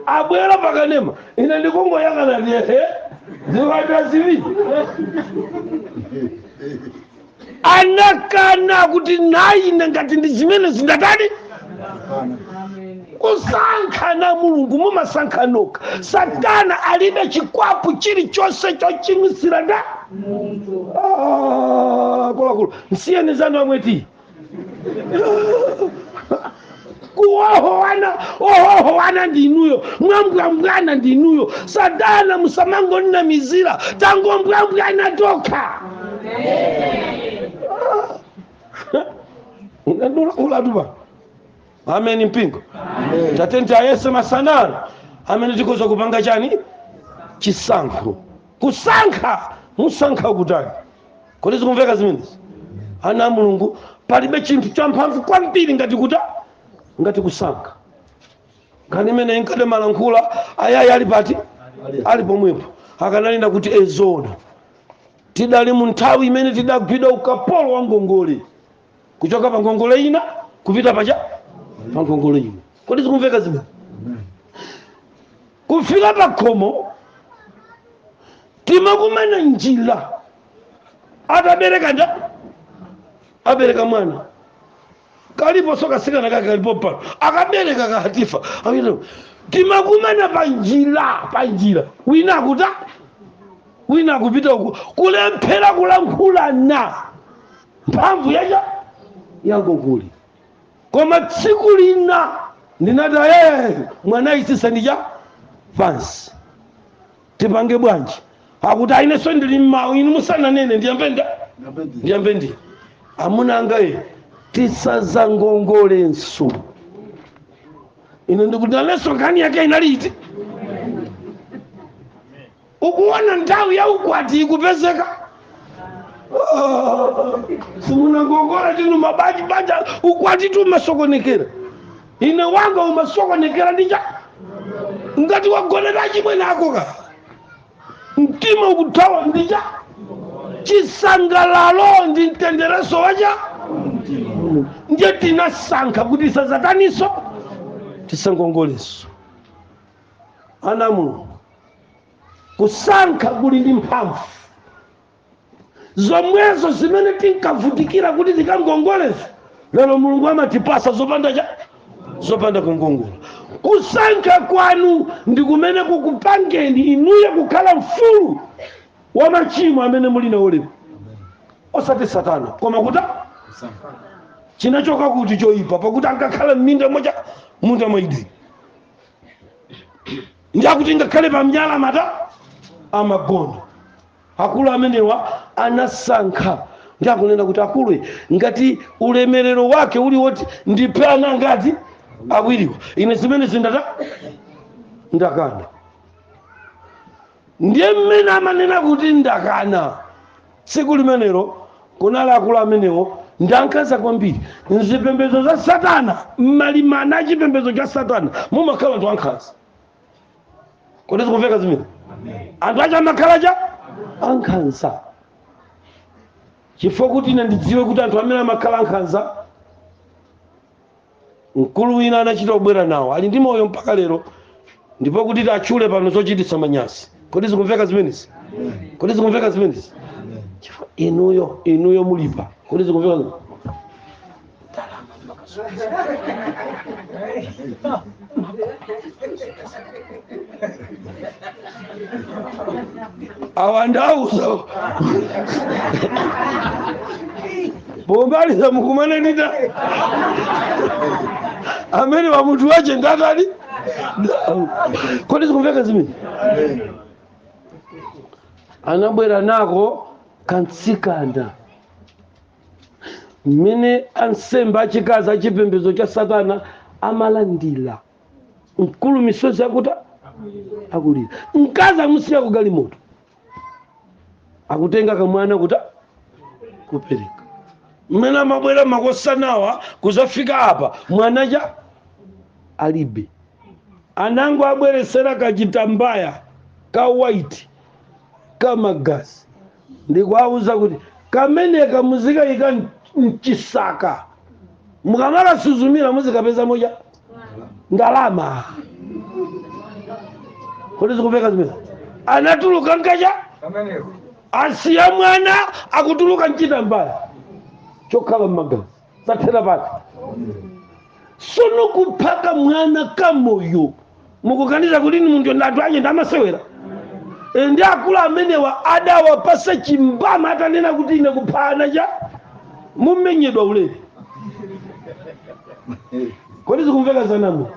[SPEAKER 1] abwera pakanema ine ndikungoyang'ana ndi ehe ziwanda ziwiri anakana kuti nayine ngati ndi zimene zinatani kusankha na mulungu mumasankha nokha satana alibe chikwapu chilichonse chochimwitsira nde Ah, akuluakulu nsiyeni zanu amweti kuohowana ohohowana ndinuyo mwambwambwana ndinuyo satana musamangonamizira tangombwambwana tokha ulatupa ameni mpingo tatenti ayese masanano amene tikhoza kupanga chani chisankho kusankha musankha kutani kodi zikumveka zimenezi ana a mulungu palibe chinthu champhamvu kwambiri ngati kuta ngati kusankha nkhani imene inkandimalankhula ayayi ali pati ali pomwepo akananena kuti ezona tidali mu nthawi imene tidagwidwa ukapolo wa ngongole kuchoka pa ngongole ina kupita pacha pa ngongole ina kodi zikumveka zimene kufika pa khomo timakumana njira atabereka nda abereka mwana kaliposo kasikana kake kalipo pano akabereka kahatifa Akita- timakumana pa njira pa njira wina akuta wina akupita uku kulephera kulankhulana mphamvu yacha yangongole koma tsiku lina ndinati ee mwana isisa ndija pansi tipange bwanji akuti ainenso ndili mmawu inu musananene ndiyambe nda ndiyambe ndi amuna anga e tisazangongolenso ine ndikuti nanenso nkhani yake inali iti ukuona nthawi ya ukwati ikupezeka Ah, simunangongola tinu mabanja banja ukwatitu umasokonekera ine wanga umasokonekera ndi cha ngati wagonera chimwene ako ka mtima ukuthawa ndi cha chisangalalo ndi mtendereso wacha ndiye tinasankha kuti tisazataniso tisangongoleso ana a mulungu kusankha kuli ndi mphamvu zomwezo zimene tinkavutikira kuti tikangongolezo lero mulungu amatipasa zopanda cha zopanda kungongola kusankha kwanu ndi kumene kukupangeni inuyo kukhala mfulu wa machimo amene muli nawo lero osati satana koma kuta chinachoka kuti choyipa pakuti ankakhala m'minda mwacha m'munda mwa Edeni ndiakuti ngakhale pa mnyala mata amagona akulu amenewa anasankha ndi akunena kuti akulu ngati ulemerero wake uli woti ndiphe ana ngati awiriwa ine zimenezi ndata ndakana Ndiye mmene amanena kuti ndakana. Tsiku limenelo kunali akulu amenewo ndi ankhanza kwambiri m'zipembedzo za Satana. M'malimana a chipembedzo cha Satana mumakhala anthu ankhanza. Kodi zikumveka zimene? Anthu acha amakhala cha ankhanza. Chifukwa kuti ine ndidziwe kuti anthu amene amakhala ankhanza mkulu wina anachita kubwera nawo ali ndi moyo mpaka lero ndipo kuti tatchule pano zochititsa manyazi kodi zikumveka zimenezi kodi zikumveka zimenezi Chifukwa inuyo inuyo mulipa kodi zikumveka zimenezi? awandauza pomaliza mukumane ndi amene pamutu wache ndatani kodi zikumveka zimene anabwera nako kamtsikana mmene ansembe achikazi a chipembedzo cha satana amalandira mkulu misozi kuti akulira mkazi amusiya kugalimoto akutenga kamwana kuti kupereka mmene amabwera makosanawa kudzafika apa mwana uja alibe anangowabweretsera kachitambaya ka white ka magazi ndikuwauza kuti kameneko muzikaika mchisaka mukamakasuzumira muzikapeza moja ndalama kodi zikumveka zimene anatuluka mkaja asiya mwana akutuluka nchitambaya chokhala magazi zathera pati sono kuphaka mwana kamoyo mukuganiza kuti ni munthu ndi anthu ake ndi amasewera E, ndi akulu amenewa adawapasa chimbama atanena kuti ine kupha mwana uja amamenyedwa ulere kodi zikumveka zanamo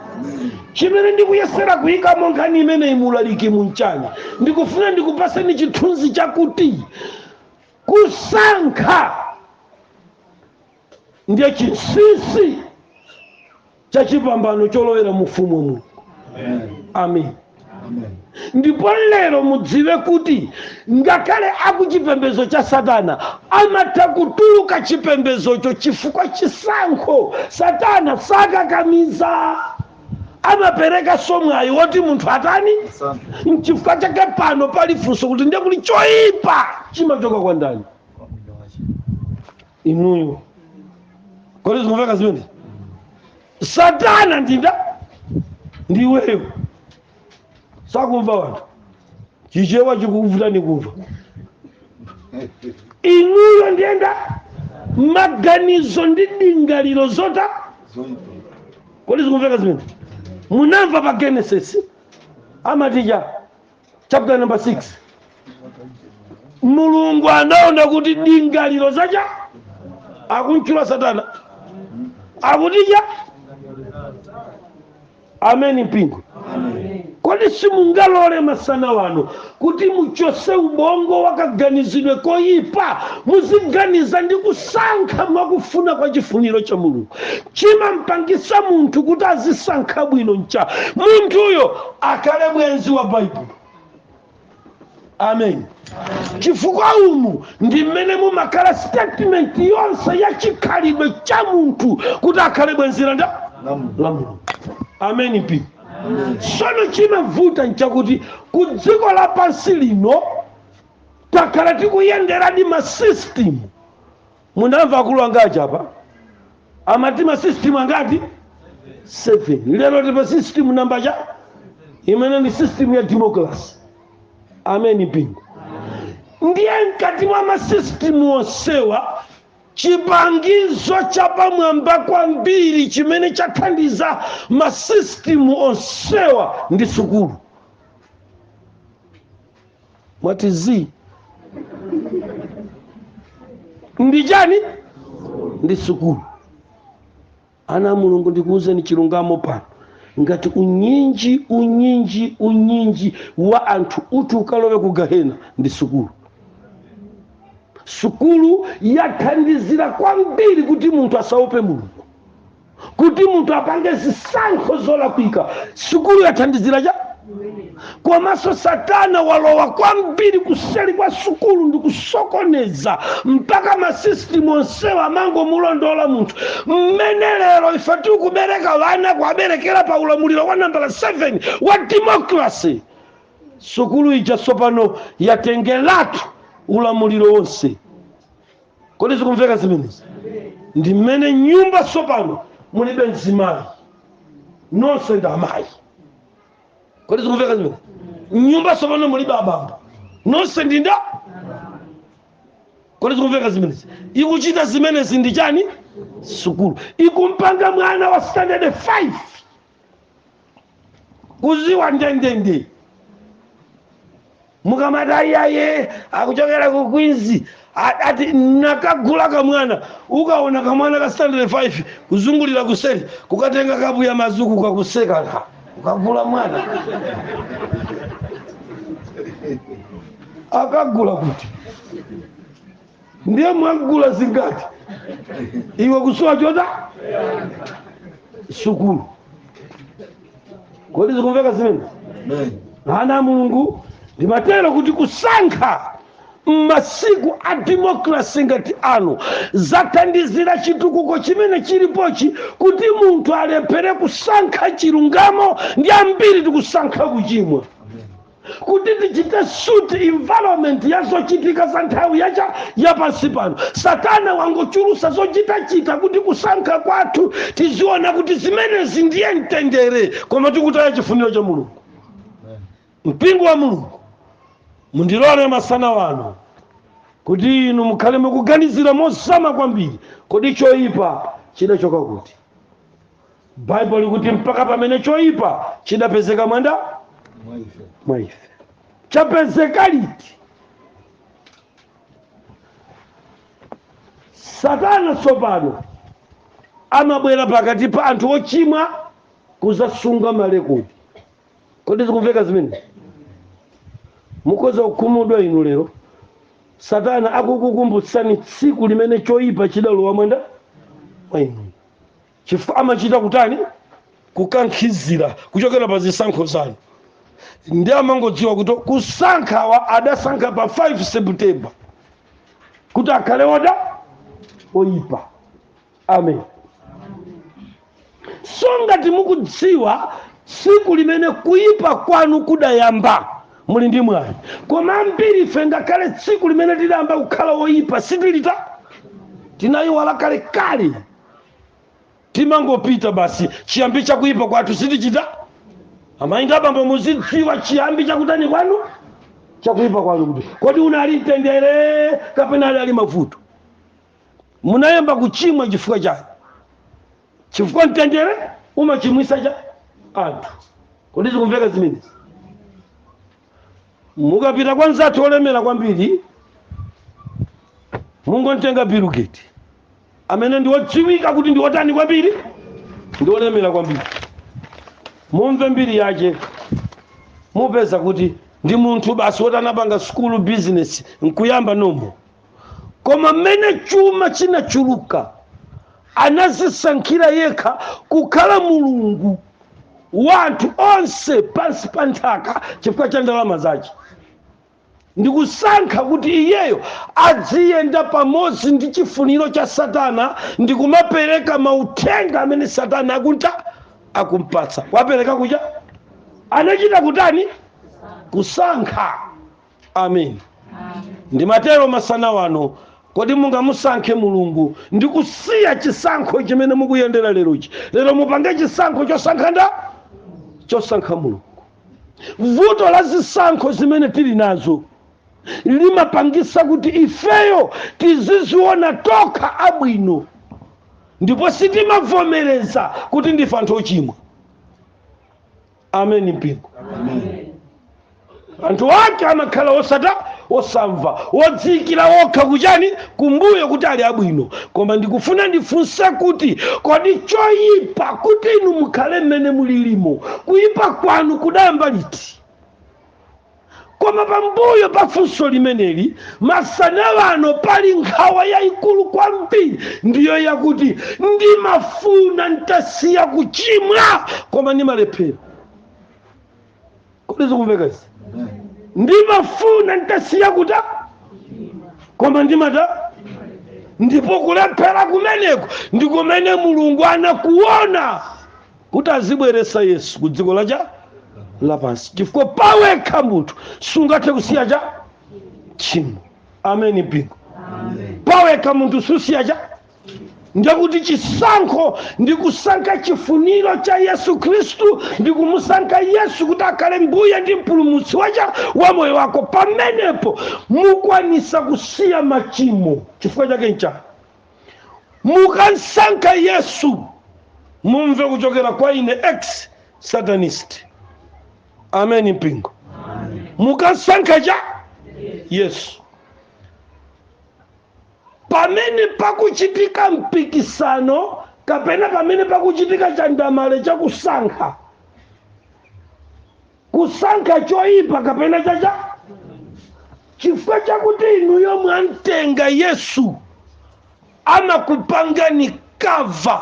[SPEAKER 1] chimene ndikuyesera kuyikamo nkhani imeneyi mulaliki munchani ndikufuna ndikupaseni chithunzi chakuti Kusankha ndiye chinsinsi cha chipambano cholowera mu ufumu wa mulungu amen ndipo lero mudziwe kuti ngakhale akuchipembezo cha satana amatha kutuluka chipembezocho chifukwa chisankho satana sakakamiza amaperekanso mwayi woti munthu atani nchifukwa chake pano pali funso kuti ndiye kuti choyipa chimachoka kwa ndani inuyo kodi zikumveka zimene satana ndi ndani ndiweyo sakumva anthu chichewa chikuvutani kumva inuyo ndiye nda maganizo ndi ndingaliro zotani kodi zikumveka zimene munamva pa genesis amatija chapter number 6 mulungu anaona kuti ndingaliro zake akumtchula satana akutija ameni mpingo kodi simungalole masana wano kuti muchose ubongo wakaganizidwe koyipa muziganiza ndi kusankha mwakufuna kwa chifuniro cha mulungu chimampangisa munthu kuti azisankha bwino ncha munthuyo akhale bwenzi wa baibulo amen chifukwa umu ndi mmene mumakhala statement yonse ya chikhalidwe cha munthu kuti akhale bwenzi la nda- la mulungu ameni mpingo sono chimavuta nchakuti ku dziko lapansi lino takhala tikuyenderadi masystem Munamva akulu anga aja apa amati ma system angati 7 lero tipa system namba cha imene ndi system ya democracy ameni mpingo ndiye mkati mwa masystem onsewa chipangizo chapamwamba kwambiri chimene chathandiza masystem onsewa ndi sukulu mwati zi ndi chani ndi sukulu ana mulungu ndikuwuzeni chilungamo pano ngati unyinji unyinji unyinji wa anthu uti ukalowe ku gahena ndi sukulu sukulu yathandizira kwambiri kuti munthu asaope mulungu kuti munthu apange zisankho zolakwika sukulu yathandizira cha komanso satana walowa kwambiri kuseli kwa sukulu ndi kusokoneza mpaka masisitimu onsewa amangomulondola munthu mmene lero ife tikubereka vana kuaberekera pa ulamuliro wa nambala 7 wa demokrasi sukulu ija tsopano yatengeratu ulamuliro wonse kodi zikumveka zimenezi ndi mmene mnyumba tsopano mulibe mzimayi nonse ndi amayi kodi zikumveka zimenezi mnyumba tsopano mulibe abambo nonse ndi nda kodi zikumveka zimenezi ikuchita zimenezi ndi chani sukulu ikumpanga mwana wa standard 5 kuziwa ndendende mukamati iyaye akuchokera ku queens a- ati nakagula kamwana ukaona kamwana ka standard 5 kuzungulira kuseri kukatenga kapu ya madzi uku kakusekaka ukagula mwana akagula kuti ndiye mwagula zingati iwe kusowa chochita sukulu kodi zikumveka zimene ana a mulungu ndimatero kuti kusankha m'masiku a demokrasi ngati ano zathandizira chitukuko chimene chilipochi kuti munthu alephere kusankha chilungamo ndi ambiri tikusankha kuchimwa kuti tichite suit environment ya zochitika za nthawi yacha ya pansi pano satana wangochulusa zochitachita kuti kusankha kwathu tiziona kuti zimenezi ndiye mtendere koma tikutaya chifuniro cha mulungu mpingo wa mulungu mundilole masana ano kuti inu mukhale mukuganizira mozama kwambiri kodi choyipa chidachoka kuti baibulo likuti mpaka pamene choyipa chidapezeka mkati mwa ife chapezeka liti satana tsopano amabwera pakati pa anthu ochimwa kuzasunga malekodi kodi zikumveka zimene mukhoza kukhumudwa inu lero satana akukukumbutsani tsiku limene choyipa chidalowa mkati mwa inu chifukwa amachita kutani kukankhizira kuchokera pa zisankho zanu ndi amangodziwa kuti kusankhawa adasankha pa 5 september kuti akhale oda oyipa amen so ngati mukudziwa tsiku limene kuyipa kwanu kudayamba muli ndi mwayi koma ambiri ife ngakhale tsiku limene tidayamba kukhala oyipa sitilidziwa tinayiwala kalekale timangopita basi chiyambi chakuyipa kwathu sitichita amayi ndi abambo muzidziwa chiyambi chakutani kwanu chakuyipa kwanu kuti kodi unali mtendere kapena ali ali mavuto munayamba kuchimwa chifukwa chani chifukwa mtendere umachimwisatu anthu kodi zikumveka zimenezi mukapita kwa mzathu olemera kwambiri mungontenga bill gates amene ndi odziwika kuti ndi otani kwambiri ndi olemera kwambiri mumve mbiri yake mupeza kuti ndi munthu basi woti anapanga sukulu bizinesi nkuyamba nomo koma mmene chuma chinachuluka anazisankhira yekha kukhala mulungu wa anthu onse pansi pa nthaka chifukwa cha ndalama zake ndikusankha kuti iyeyo adziyenda pamodzi ndi chifuniro cha satana ndikumapereka mauthenga amene satana akunta akumpatsa wapereka kuja anachita kutani kusankha amen ndimatero masana wano kodi mungamusankhe mulungu ndi kusiya chisankho chimene mukuyendera lerochi lero mupange chisankho chosankha nda chosankha mulungu vuto la zisankho zimene tili nazo zimapangisa kuti ifeyo tiziziona tokha abwino ndipo sitimavomereza kuti ndife anthu ochimwa ameni mpingo anthu ake amakhala osata osamva odziikira okha kuchani kumbuyo kuti ali abwino koma ndikufuna ndifunse kuti kodi choyipa kuti inu mukhale mmene mulilimo kuyipa kwanu kudayamba liti koma pambuyo pa funso limeneli masana wano pali nkhawa yayikulu kwambiri ndiyo yakuti ndimafuna ntasiya kuchimwa koma ndimalephera kodi zikumvekazi ndimafuna ntasiya kuta koma ndimata ndipo kulephera kumeneko ndi kumene mulungu anakuona kuti azibweretsa yesu ku dziko la cha lapansi chifukwa pawekha munthu sungathe kusiya cha tchimo ameni mpingo pawekha munthu susiya cha ndekuti chisankho ndi kusankha chifuniro cha yesu khristu ndi kumusankha yesu kuti akhale mbuye ndi mpulumutsi wacha wa moyo wako pamenepo mukwanisa kusiya machimo chifukwa chake nchani mukamsankha yesu mumve kuchokera kwa ine ex satanist ameni mpingo mukamsankha cha yesu pamene pakuchitika mpikisano kapena pamene pakuchitika chandamale chakusankha kusankha choyipa kapena chacha chifukwa chakuti inuyo mwamtenga yesu amakupangani cover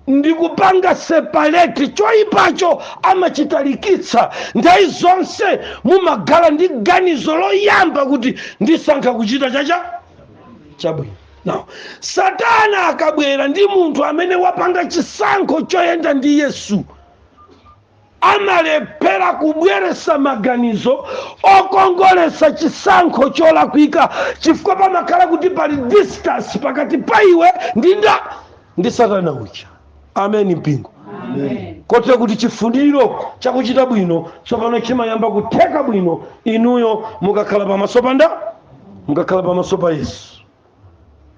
[SPEAKER 1] ndi kupanga separate choyipacho amachitalikitsa nthawi zonse mumakhala ndi ganizo loyamba kuti ndisankha kuchita chacha chabwino now satana akabwera ndi munthu amene wapanga chisankho choyenda ndi yesu amalephera kubweretsa maganizo okongoletsa chisankho cholakwika chifukwa pamakhala kuti pali distance pakati pa iwe ndi nda ndi satana uja ameni mpingo kotero kuti chifuniro chakuchita bwino tsopano chimayamba kutheka bwino inuyo mukakhala pamaso pa nda mukakhala pamaso pa yesu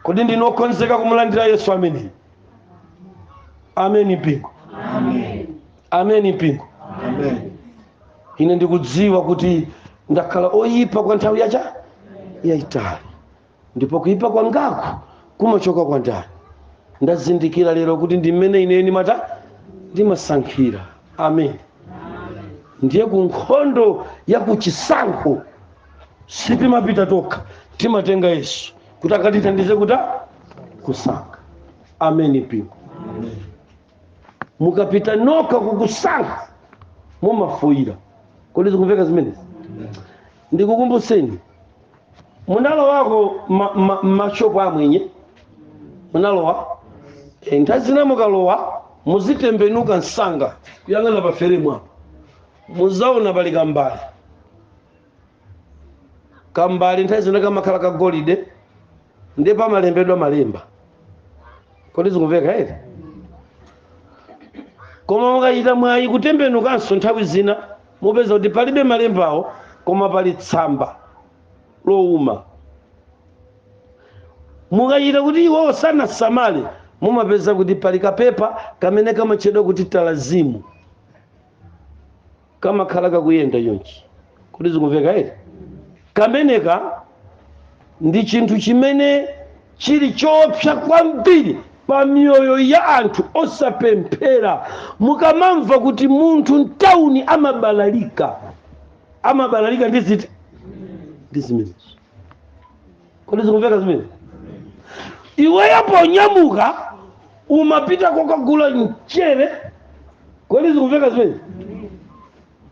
[SPEAKER 1] kodi ndinu okonzeka kumulandira yesu ameneyi ameni mpingo ameni mpingo ine ndikudziwa kuti ndakhala oyipa kwa nthawi yacha yayitali ndipo kuyipa kwangaku kumachoka kwa ndani ndazindikira lero kuti ndi mmene ine ndimata ndimasankhira amen ndiye ku nkhondo ya kuchisankho sitimapita tokha timatenga yesu kuti akatithandize kuta kusankha ameni mpingo mukapita nokha kukusankha mumafoyira kodi zikumveka zimenezi ndikukumbutseni munalowako ma- ma- mashopu amwenye munalowa nthawi zina mukalowa muzitembenuka msanga kuyang'ana pa feremu apo muzaona pali kambale kambale nthawi zina kamakhala kagolide ndiye pamalembedwa malemba kodi zikumveka eti koma mukachita mwayi kutembenukanso nthawi zina mupeza kuti palibe malembawo koma pali tsamba lowuma mukachita kuti iwowo sanasamale mumapeza kuti pali kapepa kamene kamatchedwa kuti talazimu kamakhala kakuyenda chonchi kodi zikumveka eti kameneka ndi chinthu chimene chili choopsa kwambiri pa miyoyo ya anthu osapemphera mukamamva kuti munthu mtawuni amabalalika amabalalika ndi ziti ndi zimenezo kodi zikumveka zimene iweyo ponyamuka umapita kokagula mchere kodi zikumveka zimene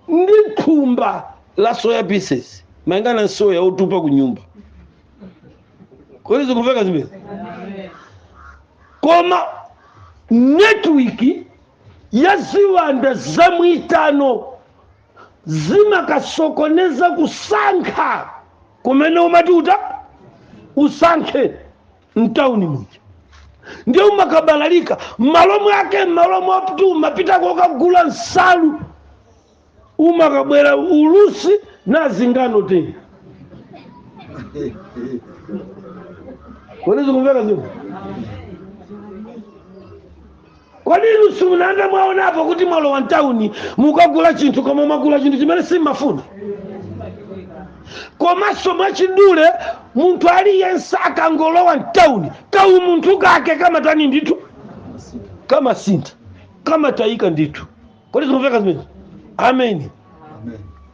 [SPEAKER 1] ndi thumba la soya pieces mayingana na soya otupa ku nyumba kodi zikumveka zimene koma network ya ziwanda za mwiitano zimakasokoneza kusankha kumene umati uta usankhe mtauni muja ndiye umakabalalika m'malo mwake m'malo mwakuti umapita kokagula nsalu umakabweretsa ulusi na zingano tena kodi zikumveka ziko Kodi inu simunayambe mwaonapo kuti mwalowa mtauni mukagula chinthu koma mwagula chinthu chimene simmafuna? Komanso mwachidule munthu aliyense akangolowa mtauni kaumunthu kake kamatani ndithu kamasintha kamatayika ndithu. Kodi zikumveka zimenezo? Ameni.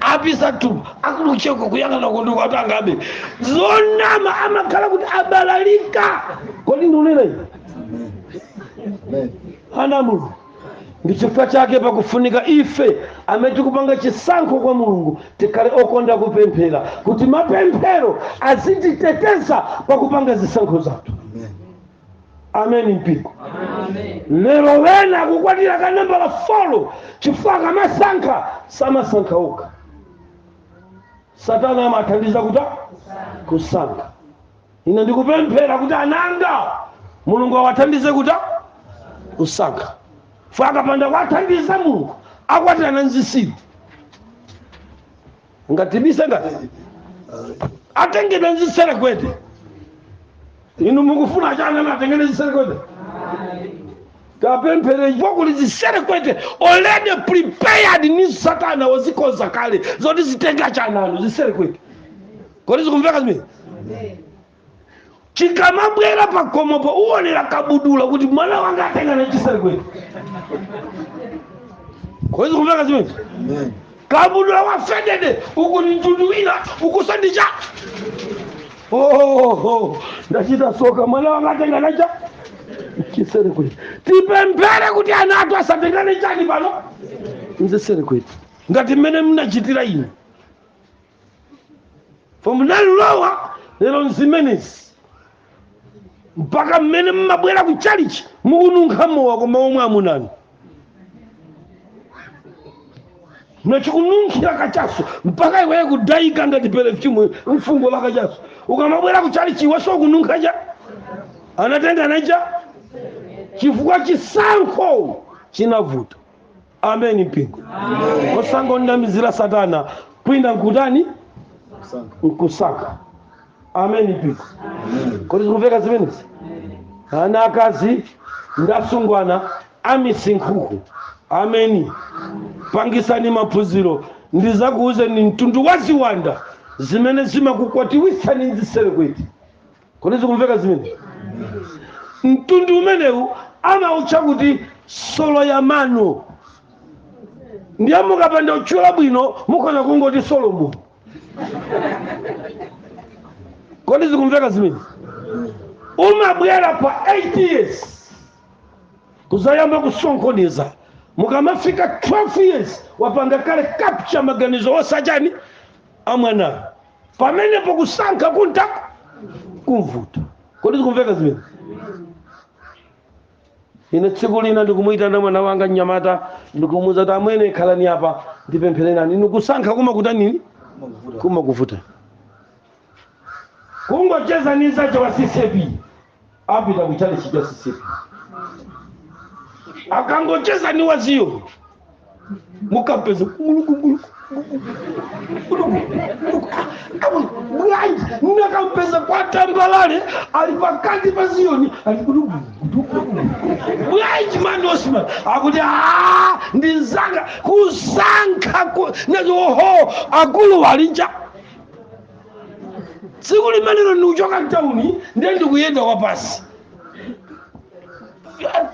[SPEAKER 1] apisa tu akulucheko kuyang'ana kundu watu angabe zonama amakhala kuti abalalika kodi ndunena ana a mulungu ndi chifukwa chake pakufunika ife amene tikupanga chisankho kwa mulungu tikhale okonda kupemphera kuti mapemphero azititeteza pakupanga zisankho zathu ameni mpingo lero wena akukwatira ka nambala folo chifukwa akamasankha samasankha okha satana amawathandiza kutani kusankha ine ndikupemphera kuti ananga mulungu awathandize kutani kusankha chifukwa akapanda kuwathandiza mulungu akwatirana nzitsiru ngatibise ngati atengedwa nziserekwete inu mukufuna chani ana atengedwe nziserekwete tipemphere chifukwa kuli ziserekwete already prepared ni satana wazikonza kale zoti zitenge cha ana anu ziserekwete kodi zikumveka zimene chikamabwera pakhomopo uonera kabudula kuti mwana wanga atengana chiserekwete kodi zikumveka zimene kabudula wa faded uku ni mtundu wina ukusandija oh, oh, oh. ndachita soka mwana wanga atengana cha chiserekwete tipemphere kuti ana athu asatengane chani pano nziserekwete ngati mmene mnachitira inu chifukwa munalilowa lero nzimenezi mpaka mmene mmabwera ku chalichi mukununkha mowa koma omwe amuna anu mnachikununkhira kachaso mpaka iweye kudayika ngati perfume mfungo la kachaso ukamabwera ku chalichi iweso ukununkha cha anatengana cha chifukwa chisankho chinavuta ameni mpingo osangonamizira satana kwina nkutani nkusankha ameni mpingo kodi zikumveka zimenezi ana akazi ndi asungwana amisinkhuku ameni pangisani maphunziro ndizakuwuzeni mtundu wa ziwanda zimene zimakukwatiwitsani nziserekwete kodi zikumveka zimene mtundu umenewu amautcha kuti solo ya mano ndiye mukapanda utchula bwino mukhoza kungoti solomoni kodi zikumveka zimene umabwera pa 8 years kuzayamba kusokoneza mukamafika 12 years wapanga kale capture maganizo onse achani amwanayo pamenepo kusankha kunta kumvuta kodi zikumveka zimene ine tsiku lina ndikumuyitana mwana wanga mnyamata ndikumuuza kuti amwene khalani apa ndipemphererani inu kusankha kumakutanini kumakuvuta kungocheza ni nzake wa ccap apita ku chalichi cha ccap akangocheza ni wa ziyoni mukampeza kulukukuluku bwanji mukampeza kwa tambalale ali pakati pa ziyoni ali kudugu bwanji mani osman akuti "Ah, ndi nzanga kusankha ku- nazo oho akulu walinja tsiku limenelo ndikuchoka mtauni ndiye ndikuyenda kwapasi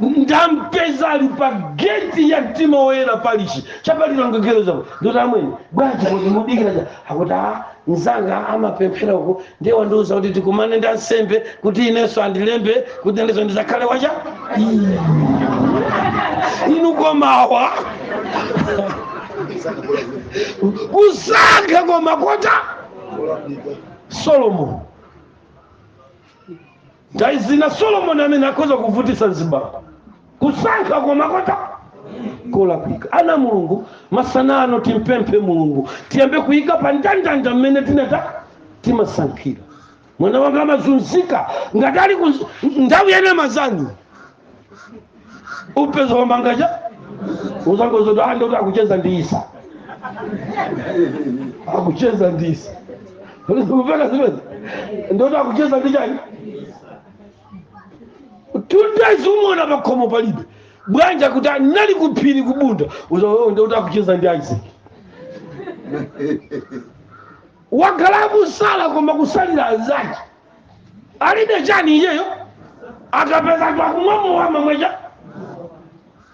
[SPEAKER 1] ndampeza ali pa geti ya mtima woyera palichi cha pa lilongwe girls apo ndikuti amwene bwanji kodi mudikira chani akuti a mzanga amapemphera uko ndiye wandiuza kuti tikumane ndi ansembe kuti inenso andilembe kuti inenso ndizakhale wacha inu koma awa kusankha koma kota solomoni nthawi zina solomoni amene akhoza kuvutisa mzibambo kusankha koma kota kolakwika ana a mulungu masana ano timpemphe mulungu tiyambe kuyika pa ndandanda mmene timata timasankhira mwana wanga amazunzika ngati ali ku nthawi ya nyama zanu upeza wamangaja uzangozoti ndiye kuti akucheza ndi isa akucheza ndi isa kupeka zimene ndiye kuti akucheza ndi chani tutezi umona pakhomo palibe bwanji kuti anali kuphiri kubunda uzaona ndiye kuti akucheza ndi isaac wakhala akusala koma kusalira anzake alibe chani iyeyo akapeza anthu akumwa mowa amamwa chani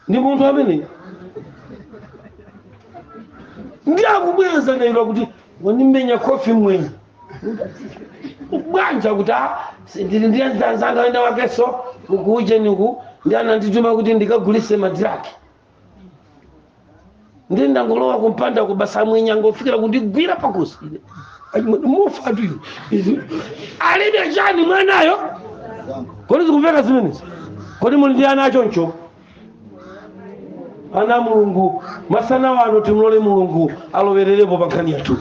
[SPEAKER 1] ndi munthu ameneyo ndi akubweza nailo kuti wandimenya khofi mmwenye bwanji kuti a ndili ndi anzanga enda wakenso kuujeniku ndiye anandituma kuti ndikagulise madiraki ndiye ndangolowa kumpandako basi mmwenye angofikira kundigwira pakhosi ine achimwene mofatu ine Izi- alibe chani mwanayo kodi zikumveka zimenezi kodi muli ndi ana achoncho ana a mulungu masana ano timlole mulungu alowererepo pa nkhani yathu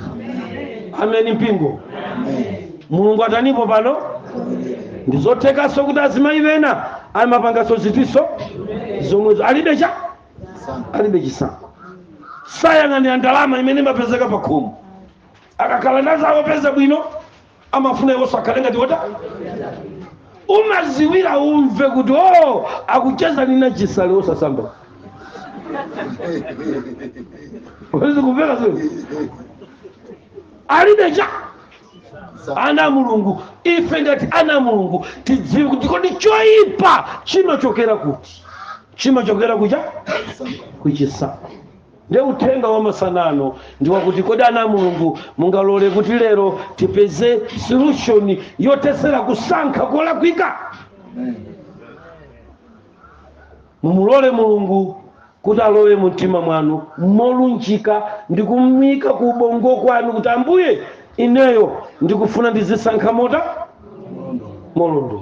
[SPEAKER 1] ameni mpingo mulungu atanipo pano ndizothekanso kuti azimayi ena amapanganso zinthu zomwezo alibe cha alibe chisankho sayang'anira ndalama imene imapezeka pa khomo akakhala ndi anzawo opeza bwino amafuna iwonso akhale ngati wota umaziwira umve kuti o akucheza ndi Nachisale osasamba wezi kupeka zio alibe cha ana a mulungu ife ngati ana a mulungu tidziwe kuti kodi choyipa chimachokera kuti chimachokera kucha kuchisankho nde uthenga wa masana ano ndi wakuti kodi ana a mulungu mungalole kuti lero tipeze solution yothetsera kusankha kolakwika Mumulole Mulungu kuti alowe mu mtima mwanu, molunjika, ndi kumuika ku ubongo kwanu, kuti, Ambuye, ineyo ndikufuna ndidzisankha motani? Molondola.